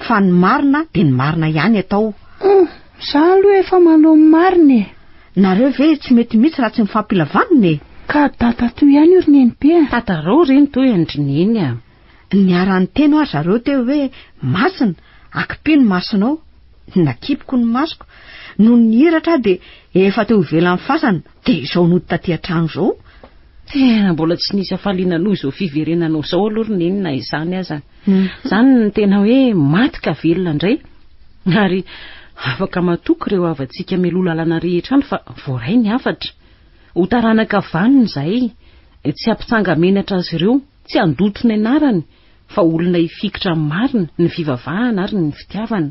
fa ny marina dia ny marina ihany eto ao. Humm, za aloha efa manao ny marina e. Nareo ve tsy mety mitsy raha tsy mifampilavanina e. Ka dada toy ihany io ry nenibe a. Tatarao ry ntoy an-dry neny a. Niara-niteny ho'a ry zareo teo hoe, Masina, akipy ny masonao. Nakipiko ny masoko. Nony nihiratra aho dia efa teo ivelan'ny fasana. Dia izao nody taty an-trano izao. Tena mbola tsy nisy hafaliana noho izao fiverenanao izao aloha ry Neny na izany aza. Izany no tena hoe maty ka velona indray. Ary afaka matoky ireo havantsika mialoha lalana rehetra any fa voaray ny hafatra. Ho taranaka vanona izahay. Tsy hampitsanga-menatra azy ireo. Tsy handoto ny anarany fa olona hifikitra amin'ny marina, ny fivavahana ary ny fitiavana.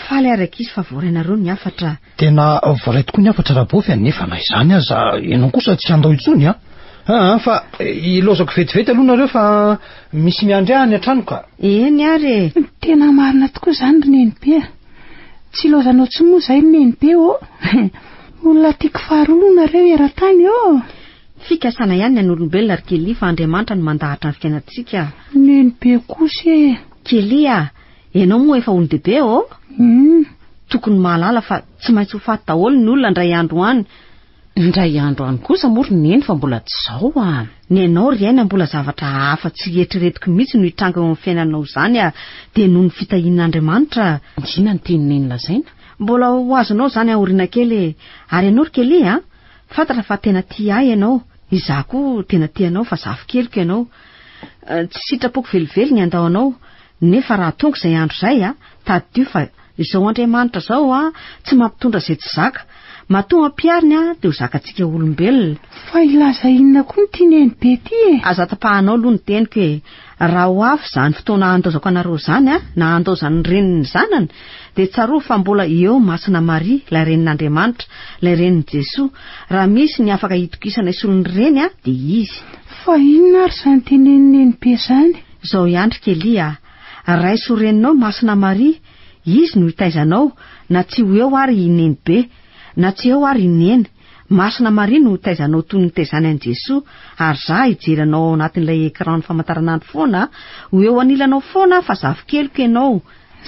Faly ary ankizy fa voaray nareo ny hafatra. Tena voaray tokoa ny hafatra Rabofy a, nefa na izany aza ianao kosa tsy handao intsony a! Aa fa ilaozako vetivety aloha nareo fa misy miandry ahy any an-trano ka! Eny ary e! Tena marina tokoa izany ry Nenibe a! Tsy ilaozanao intsony moa izay ry Nenibe ô! Olona tiako faharoa aloha nareo eran-tany ô! Fikasana ihany ny an'olombelona ry Kelly fa Andriamanitra no mandahatra ny fiainantsika. Neny be kosa e! Kelly a! Ianao moa efa olon-dehibe ô? Humm! Tokony mahalala fa tsy maintsy ho faty daholo ny olona indray andro any. Indray andro any kosa moa ry Neny fa mbola tsy izao a! Ny anao ry Aina mbola zavatra hafa tsy eritreretiko mihitsy no hitranga eo amin'ny fiainanao izany a! Dia noho ny fitahian'Andriamanitra. Inona no tian'i Neny lazaina? Mbola ho azonao izany aoriana kely e! Ary ianao ry Kelly a! Fantatra fa tena tia ahy ianao, izaho koa tena tia anao fa zafikeliko ianao. Tsy sitrapoko velively ny handao anao, nefa raha tonga izay andro izay, tadidio fa izao Andriamanitra izao tsy mampitondra izay tsy zaka. Matoa ampihariny dia ho zakantsika olombelona. Fa hilaza inona koa ity neny be ity e? Aza tapahanao aloha ny teniko e! Raha ho avy izany fotoana handaozako anareo izany, na handaozan'ny reniny ny zanany, dia tsarovy fa mbola eo Masina Maria, ilay Renin'Andriamanitra, ilay Renin'i Jesoa. Raha misy ny afaka hitokisana hisolo ny reny, dia izy. Fa inona ary izany tenenin'i Nenibe izany? Izao ihany ry Kelly a! Raiso reninao Masina Maria, Izy no hitaiza anao, na tsy ho eo ary i Nenibe, na tsy eo ary i Neny. Masina Maria no hotaizanao toy ny nitaizany an'i Jesoa ary za hijery anao ao anatin'ilay écran-n'ny famantaranandro foana a! Ho eo anilanao foana aho fa zafikeliko ianao!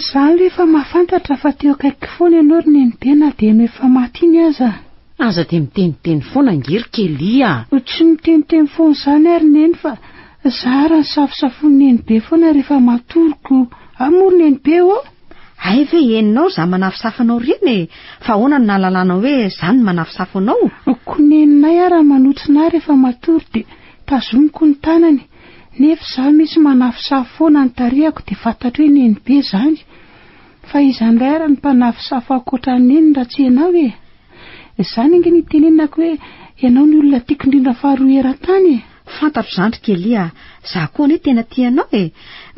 Za aloha efa mahafantatra fa teo akaiky foana ianao ry Nenipia na dia enao efa maty iny aza. Aza dia miteniteny foana ange ry Kelly a! Tsy miteniteny foana izany aho ry Neny fa Za ary ny safosafon'i Nenibe foana rehefa matoroko Ao moa ry Nenibe ô! Hay ve henonao za manafosafo anao reny e! Fa ahoana no nahalalanao hoe za no manafosafo anao? Ko Neninay ary manotrona ahy rehefa matory dia tazomiko ny tanany, nefa za misy manafosafo foana ny tarehako dia fantatro hoe Nenibe izany. Fa iza indray ary ny mpanafosafo ankoatra an'i Neny raha tsy ianao e! Izany ange no itenenako hoe ianao no olona tiako indrindra faharoa eran-tany e! Fantatro izany ry Kelly a! Za koa anie tena tia anao e!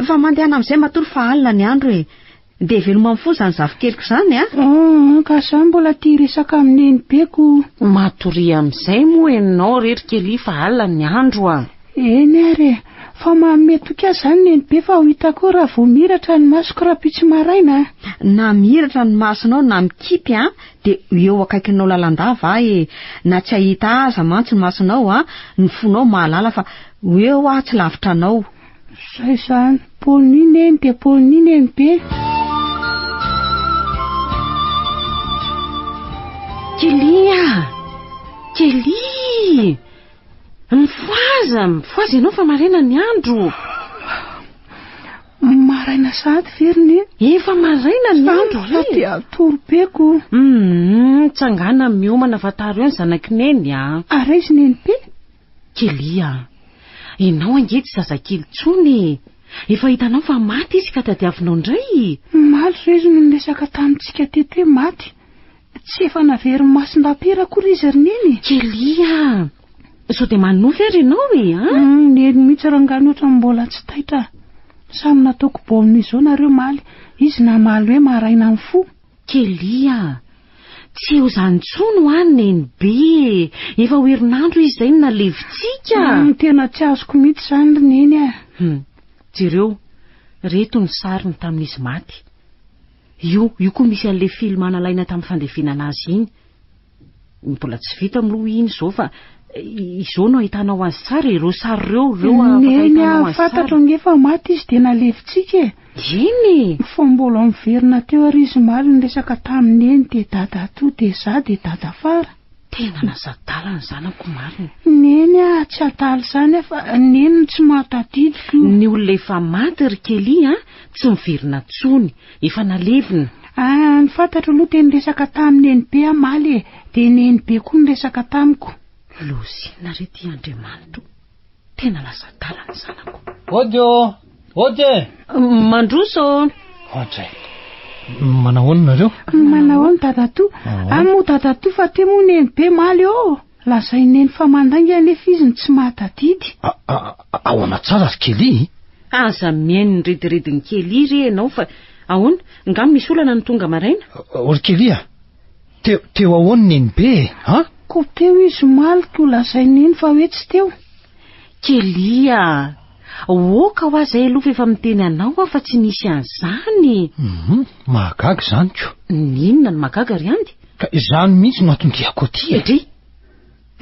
Fa mandehana amin'izay matoa fa alina ny andro e! Dia veloma mifoha izany zafikeliko izany a! Humm ka za mbola tia resaka amin'ny nenibeko! Matoria amin'izay moa ianao re ry Kelly fa alina ny andro a! Eny ary e! Fa manome toky ahy izany nenibe fa ho hita koa raha vao mihiratra ny masoko rahampitso maraina a! Na mihiratra ny masonao na mikipy a! Dia ho eo akaikinao lalandava aho e, na tsy hahita ahy aza mantsy ny masonao a, ny fonao mahalala fa ho eo aho tsy lavitra anao. Saison pony neny dia pony neny be. Kelly a! Kelly! Mifohaza! Mifohaza ianao fa maraina ny andro. Maraina sahady ve ry neny? Efa maraina ny andro ry! Sampy fa te-hatory be ko! Hum! Tsangana miomana fa tara eo ny zanak'i Neny a! Ary aiza i Nenipé? Kelly a! Ianao ange tsy zazakely intsony e! Efa hitanao fa maty izy ka tadiavinao indray! Omaly re izy no niresaka tamintsika teto hoe maty. Tsy efa naverin'i Masindampera akory izy ry Neny e! Kelly a! Sao dia manonofy ary ianao e, an? Humm, Neny mihitsy rangahy ny ohatran'ny mbola tsy taitra a! Samy nataoko baolina izao nareo omaly, izy namaly hoe maraina ny fo. Kelly a! Tsy ho izany intsony hoa ny Neny be e! Efa ho herinandro izy izay no nalevintsika! Humm, tena tsy azoko mihitsy izany ry Neny a! Humm, jereo, ireto ny sariny tamin'izy maty. Io io koa misy anle film nalaina tam fandevenana azy iny. Mbola tsy vita mloa iny izao fa izao no ahitanao azy tsara e, ireo sary ireo ireo afaka ahitanao azy tsara. Neny a fantatro ange fa maty izy dia nalevintsika e. Eny e! Fa mbola miverina teo ary izy omaly niresaka tamin'i Neny dia dada atoa dia za dia dada afara. Tena lasa adala ny zanako marina. Neny ah, tsy adala izany ah fa neny no tsy mahatadidy. Ny olona efa maty ry Kelly ah, tsy miverina intsony, efa nalevina. Ah, ny fantatro aloha dia niresaka tamin'i Nenibe aho maly e, dia Nenibe koa niresaka tamiko. Lozina re ity Andriamanitro. Tena lasa adala ny zanako. Ody ô! Ody e! Mandroso ô! Ohatray. Manao ahoana nareo? Manao ahoana dadatoa? Any moa dadatoa fa te moa neny be maly ô! Lazain'i neny fa mandainga nefa izy no tsy mahatadidy. Ahoana tsara ry Kelly? Aza mihaino ny ridiridin'i Kelly re ianao fa ahoana? Nga misy olana no tonga maraina? Ry Kelly a! Teo, teo ahoan Nenibe e? An? Koa teo izy omaly koa lazain Neny fa hoe tsy teo. Kelly a! Oka ho aza elofa efa miteny anao aho fa tsy nisy an'izany. Hum, mahagaga izany ko. N'inona no mahagaga ry Andy? Ka izany mihitsy no anton-diako aty e. Dry!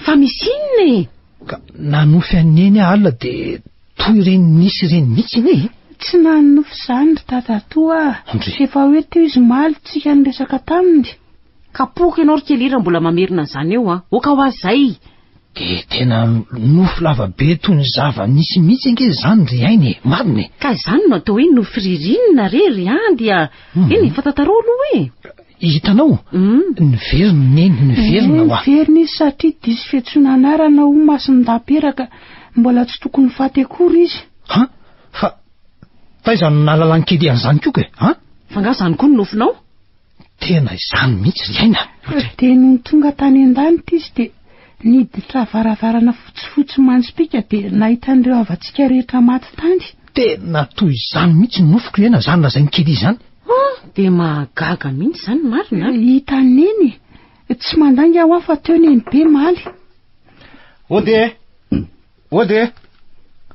Fa misy inona e? Ka nanofy an'i Neny aho alina dia toa ireny nisy ireny mihitsy anie e! Tsy nanonofy izany ry dadatoa a! Ndry! Efa hoe teo izy omaly tsika niresaka taminy. Kapohiko ianao ry Kely raha mbola mamerina an'izany eo a! Oka hoa izay! Dia tena nofy lava be toy ny zava-nisy mihitsy ange izany ry Aina e! Marina e! Ka izany no atao hoe nofy ririnina re ry an! Dia eny e! Fantatarao aloha hoe. Hitanao? Niverina i Neny, niverina hoa. Niverina izy satria diso fiantsoana anarana ho masin-dampera ka mbola tsy tokony ho faty akory izy. Ha? Fa taiza no nahalalan'i Kedi an'izany koa kay? Ha? Fa angaha izany koa no nofinao? Tena izany mihitsy ry aina. Dia nony tonga tany an-danitra izy dia niditra varavarana fotsifotsy manjopiaka dia nahita an'ireo havantsika rehetra maty tany. Tena toy izany mihitsy ny nofiko hiaina izany lazain'i Kelly izany. Ah, dia mahagaga mihitsy izany marina. Hita neny e. Tsy mandainga hoa fa teo neny be maly. Ody e! Ody e!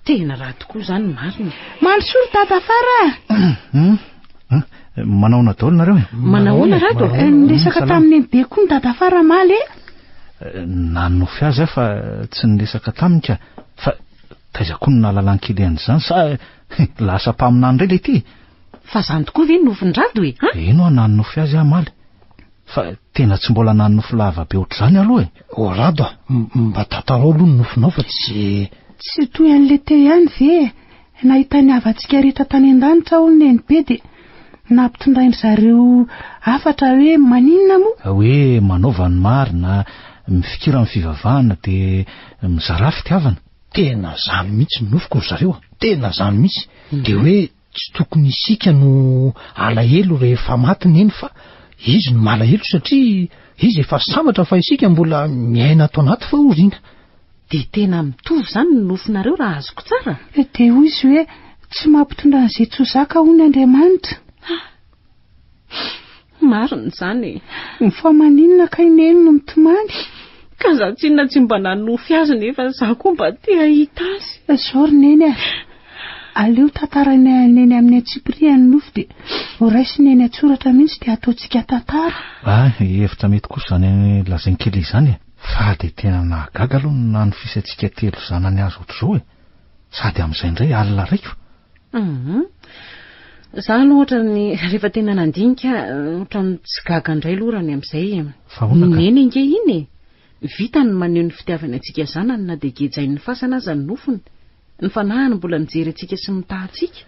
Tena raha tokoa izany marina. Maly soa ry Dada Fara a! Manahoana daholo nareo e? Manahoana Rado e? Eh, niresaka tamin'ny neny be koa ny Dada Fara maly e! Nanonofy azy aho fa tsy niresaka taminy ka. Fa Taiza koa no nahalalan-kely an'izany sa lasa mpaminany indray ilay ity e! Fa izany tokoa ve no nofin-dRado e? Eny hoa nanonofy azy aho omaly, fa tena tsy mbola nanonofy lava be ohatr'izany aloha e! O Rado a, mba tantarao aloha ny nofinao fa tsy. Tsy toy an'i Lete ihany ve e! Nahita ny havantsika rehetra tany an-danitra hono Nenibe dia nampitondrain-dry zareo hafatra hoe maninona moa? Hoe manaova ny marina, mifikira amin'ny fivavahana dia mizara fitiavana. Tena zany mihitsy ny nofiko ry zareo a! Tena zany mihitsy! Dia hoe tsy tokony isika no alahelo rehefa maty neny fa izy no malahelo satria izy efa sambatra fa isika mbola miaina ato anaty fahoriana. Dia tena mitovy izany ny nofinareo raha azoko tsara? Dia hoy izy hoe, Tsy mampitondra an'izay tsy ho zaka hono Andriamanitra. Ah! Hum marina izany e. Ny fa maninona kay neny no mitomany? Ka za tsinona tsy mba nanofy azy nefa za koa mba te hahita azy. Zao ry neny a, aleo tantarainay an'i neny amin'ny antsipiriany ny nofy dia ho raisiny eny an-tsoratra mihitsy dia ataontsika tantara. Hay, hevitra mety kosa izany lazain'i Kelly izany e. Fa dia tena nahagaga aloha ny nanofisantsika telo zanany azy ohatr'izao e. Sady amin'izay indray alina raiko. Za aloha ohatran'ny rehefa tena nandinika ohatran'ny tsy gaga indray lorany amin'izay e. Vahoana ka. Neny ange iny e. Vitany ny maneho ny fitiavany antsika zanany na dia gejain'ny fasana aza ny nofony. Ny fanahiny mbola mijery antsika sy mitaha antsika.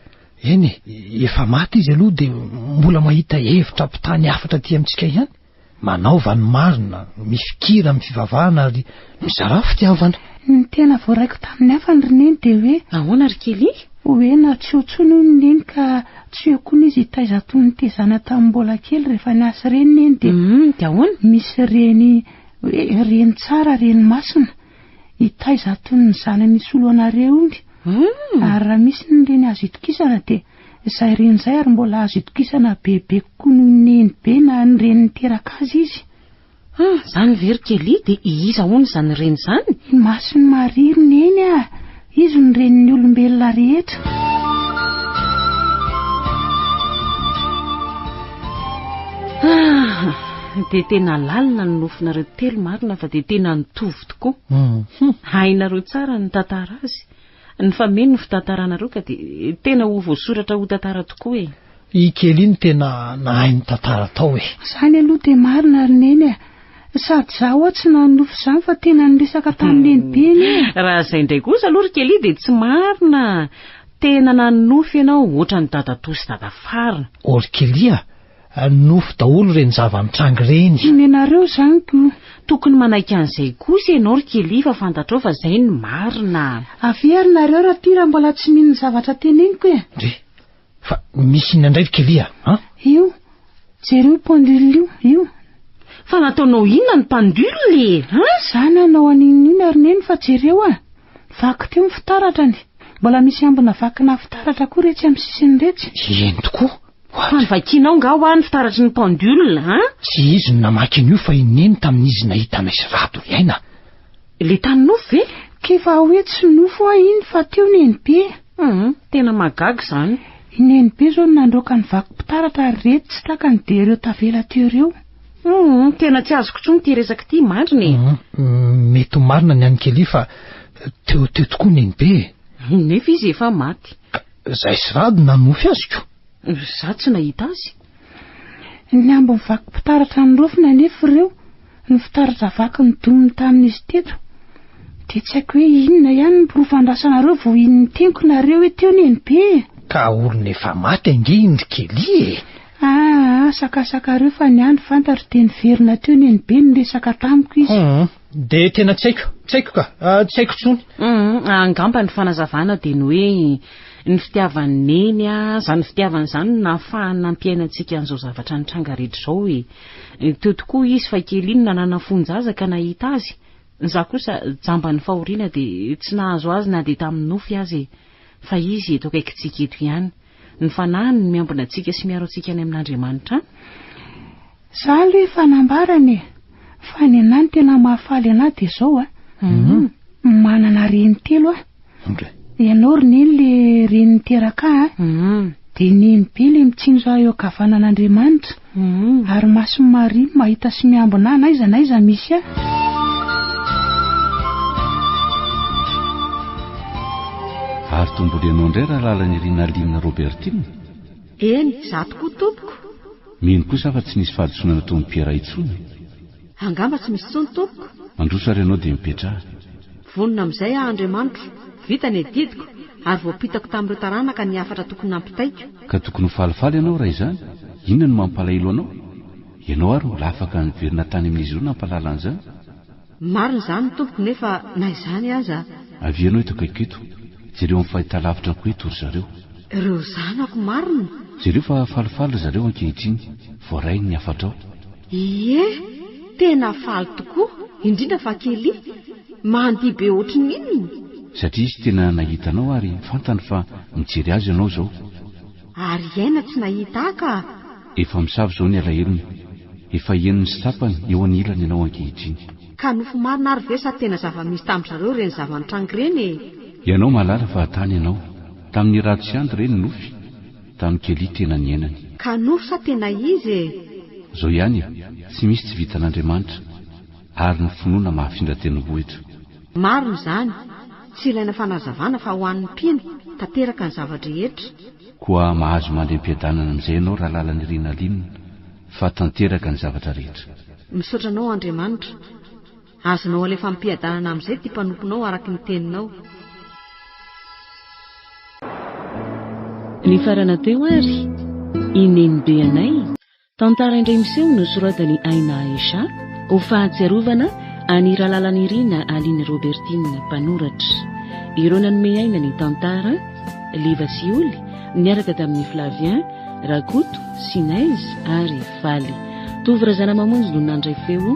Eny e, efa maty izy aloha dia mbola mahita hevitra hampitaha ny hafatra aty amintsika ihany. Manaova ny marina, mifikira amin'ny fivavahana ary mizarà fitiavana. Ny tena voaraiko tamin'ny hafa ny roneny dia hoe. Nahoana ry Kelly? Hoe na tsy eo intsony hono neny ka tsy eo koa ny izy hitaiza toy ny tezana tamin'ny mbola kely rehefa niasy reny neny dia. Hum, dia ahoana? Misy reny hoe reny tsara, reny masina. Hitaiza tony ny zanany hisolo anareo iny ary raha misy ny reny azo itokisana dia izay reny izay ary mbola azo itokisana bebe kokoa noho ny nenibe na ny reny niteraka azy izy. Hum, izany ve ry Kelly dia iza hono izany reny izany? Ny mason'i Maria ry neny ah! Izy no Renin'ny olombelona rehetra. Ah! Dia tena lalina ny nofinareo telo marina fa dia tena nitovy tokoa. Hainareo tsara ny tantara azy. Ny fa mino ny fitantaranareo ka dia tena ho voasoratra ho tantara tokoa e. I Kelly no tena nahay ny tantara tao e. Zany aloha dia marina ry Neny a. Sady za ho'a tsy nanonofy izany fa tena niresaka tamin'ny nenibeny e! Raha izay indray kosa aloha ry Kelly dia tsy marina, tena nanonofy ianao ohatran'ny dadatoa sy dadafara. Oh ry Kelly a! Nofy daholo ireny zava-nitranga ireny. Tsy nenareo izany ko! Tokony manaiky an'izay kosa ianao ry Kelly fa fantatrao fa izay no marina. Avia ry nareo raha tia raha mbola tsy mino ny zavatra teneniko e! Ndry! Fa misy inona indray ry Kelia a? Io, jereo pendule io, io. Fa nataonao inona ny pendule e? An? Za nanao an'inon'inona ry Neny fa jereo a! Vaky teo ny fitaratrany. Mbola misy ambina vakina fitaratra koa iretsy amin'ny sisiny iretsy. Eny tokoa. Fa novakianao nga hoa ny fitaratry ny pendule an? Tsy izy no namaky an'io fa i Neny tamin'izy nahita anay sy Rado ry Aina. Ilay tany nofo ve? K'efa hoe tsy nofo hoa iny fa teo Nenibe. Humm, tena mahagaga izany. I Nenibe zao no nandroaka ny vaky mpitaratra ary reto tsy takany dia ireo tavela teo ireo. Humm, tena tsy azoko intsony ity resaka ity mandrina e. Humm, mety ho marina ny an'i Kelly fa teo teo tokoa Nenibe e. Nefa izy efa maty. Ka, zay sy Rado nanonofy azy ko. Za tsy nahita azy. Ny ambin'ny vaky mpitaratra norofina anefa ireo, ny fitaratra vaky nodoniny tamin'izy teto. Dia tsy haiko hoe inona ihany ny porofo andrasanareo vao hino ny teniko nareo hoe teo nenibe e! Ka olona efa maty ange iny ry Kelly e! Aa, sakasakareo fa ny ahy ny fantatro dia niverina teo nenibe niresaka tamiko izy. Humm. Dia tena tsy haiko, tsy haiko ka, tsy haiko intsony. Humm, angamba ny fanazavana dia ny hoe ny fitiavan'i Neny a, izany fitiavana izany no nahafahany nampiaina antsika an'izao zavatra nitranga rehetra izao e. Teo tokoa izy fa kely iny nanana fon-jaza ka nahita azy, izaho kosa jamban'ny fahoriana dia tsy nahazo azy na dia tamin'ny nofy aza e. Fa izy eto akaikintsika eto ihany. ny fanahiny no miambina antsika sy miaro antsika any amin'Andriamanitra any. Za aloha efa nambarany e! Fa ny anah ny tena mahafaly anah dia zao a! Manana reny telo aho. Ianao ry neny le reny niteraka ahy a! Dia neny be le mitsinjo ahy eo ankavanan'Andriamanitra. Ary mason'i Maria no mahita sy miambina ahy n'aiza n'aiza misy ahy. Ary tombolo ianao indray Rahalalanirina Aline Robertine. Eny, izaho tokoa tompoko. Mino kosa aho fa tsy nisy fahadisoana nataon'i Piera intsony. Angamba tsy misy intsony tompoko. Mandroso ary ianao dia mipetraha. Vonona amin'izay aho Andriamanitro, vita ny adidiko, ary voampitako tamin'ireo taranaka ny hafatra tokony nampitaiko. Ka tokony ho falifaly ianao raha izany, inona no mampalahelo anao? Ianao ary mbola afaka niverina tany amin'izy ireo nampahalala an'izany. Marina izany tompoko nefa na izany aza. Avia ianao eto akaiko eto, jereo amin'ny fahitalavitra koa eto ry zareo. Ireo zanako marina. Jereo fa falifaly ry zareo ankehitriny, voaray ny hafatrao. Ie, tena faly tokoa, indrindra fa Kelly, mandihy be ohatry ny inona. Satria izy tena nahita anao ary fantany fa mijery azy ianao izao. Ary hiaina tsy nahita ahy ka. Efa misava izao ny alahelony. Efa henony sy tsapany eo anilany ianao ankehitriny. Ka nofy marina ary ve sa tena zava-misy tamin-dry zareo ireny zava-nitranga ireny e? Ianao mahalala fa tany ianao. Tamin'ny rado sy andy re ny nofy. Tano kely tena niainany. Kanory sa tena izy e? Zao ihany e, tsy misy tsy vitan'Andriamanitra, ary ny finoana mahafindra tendrombohitra. Marina izany, tsy ilaina fanazavana fa ho an'ny mpino tanteraka ny zava-drehetra. Koa mahazo mandry am-piadanana amin'izay ianao Ralalanirina Lynn fa tanteraka ny zavatra rehetra. Misaotra anao Andriamanitra. Azonao alefa ampiadanana amin'izay ity mpanomponao araka ny teninao. Nifarana teo ary i Nenibe anay, tantara indray miseho nosoratan'i Aina Aisha, ho fahatsiarovana an'i Ralalanirina Aline Robertine, mpanoratra. Ireo nanome aina ny tantara, Liva sy Oly, niaraka tamin'i Flavien, Rakoto, Sinez ary Faly. Tovo Razanamamonjy no nandray feo.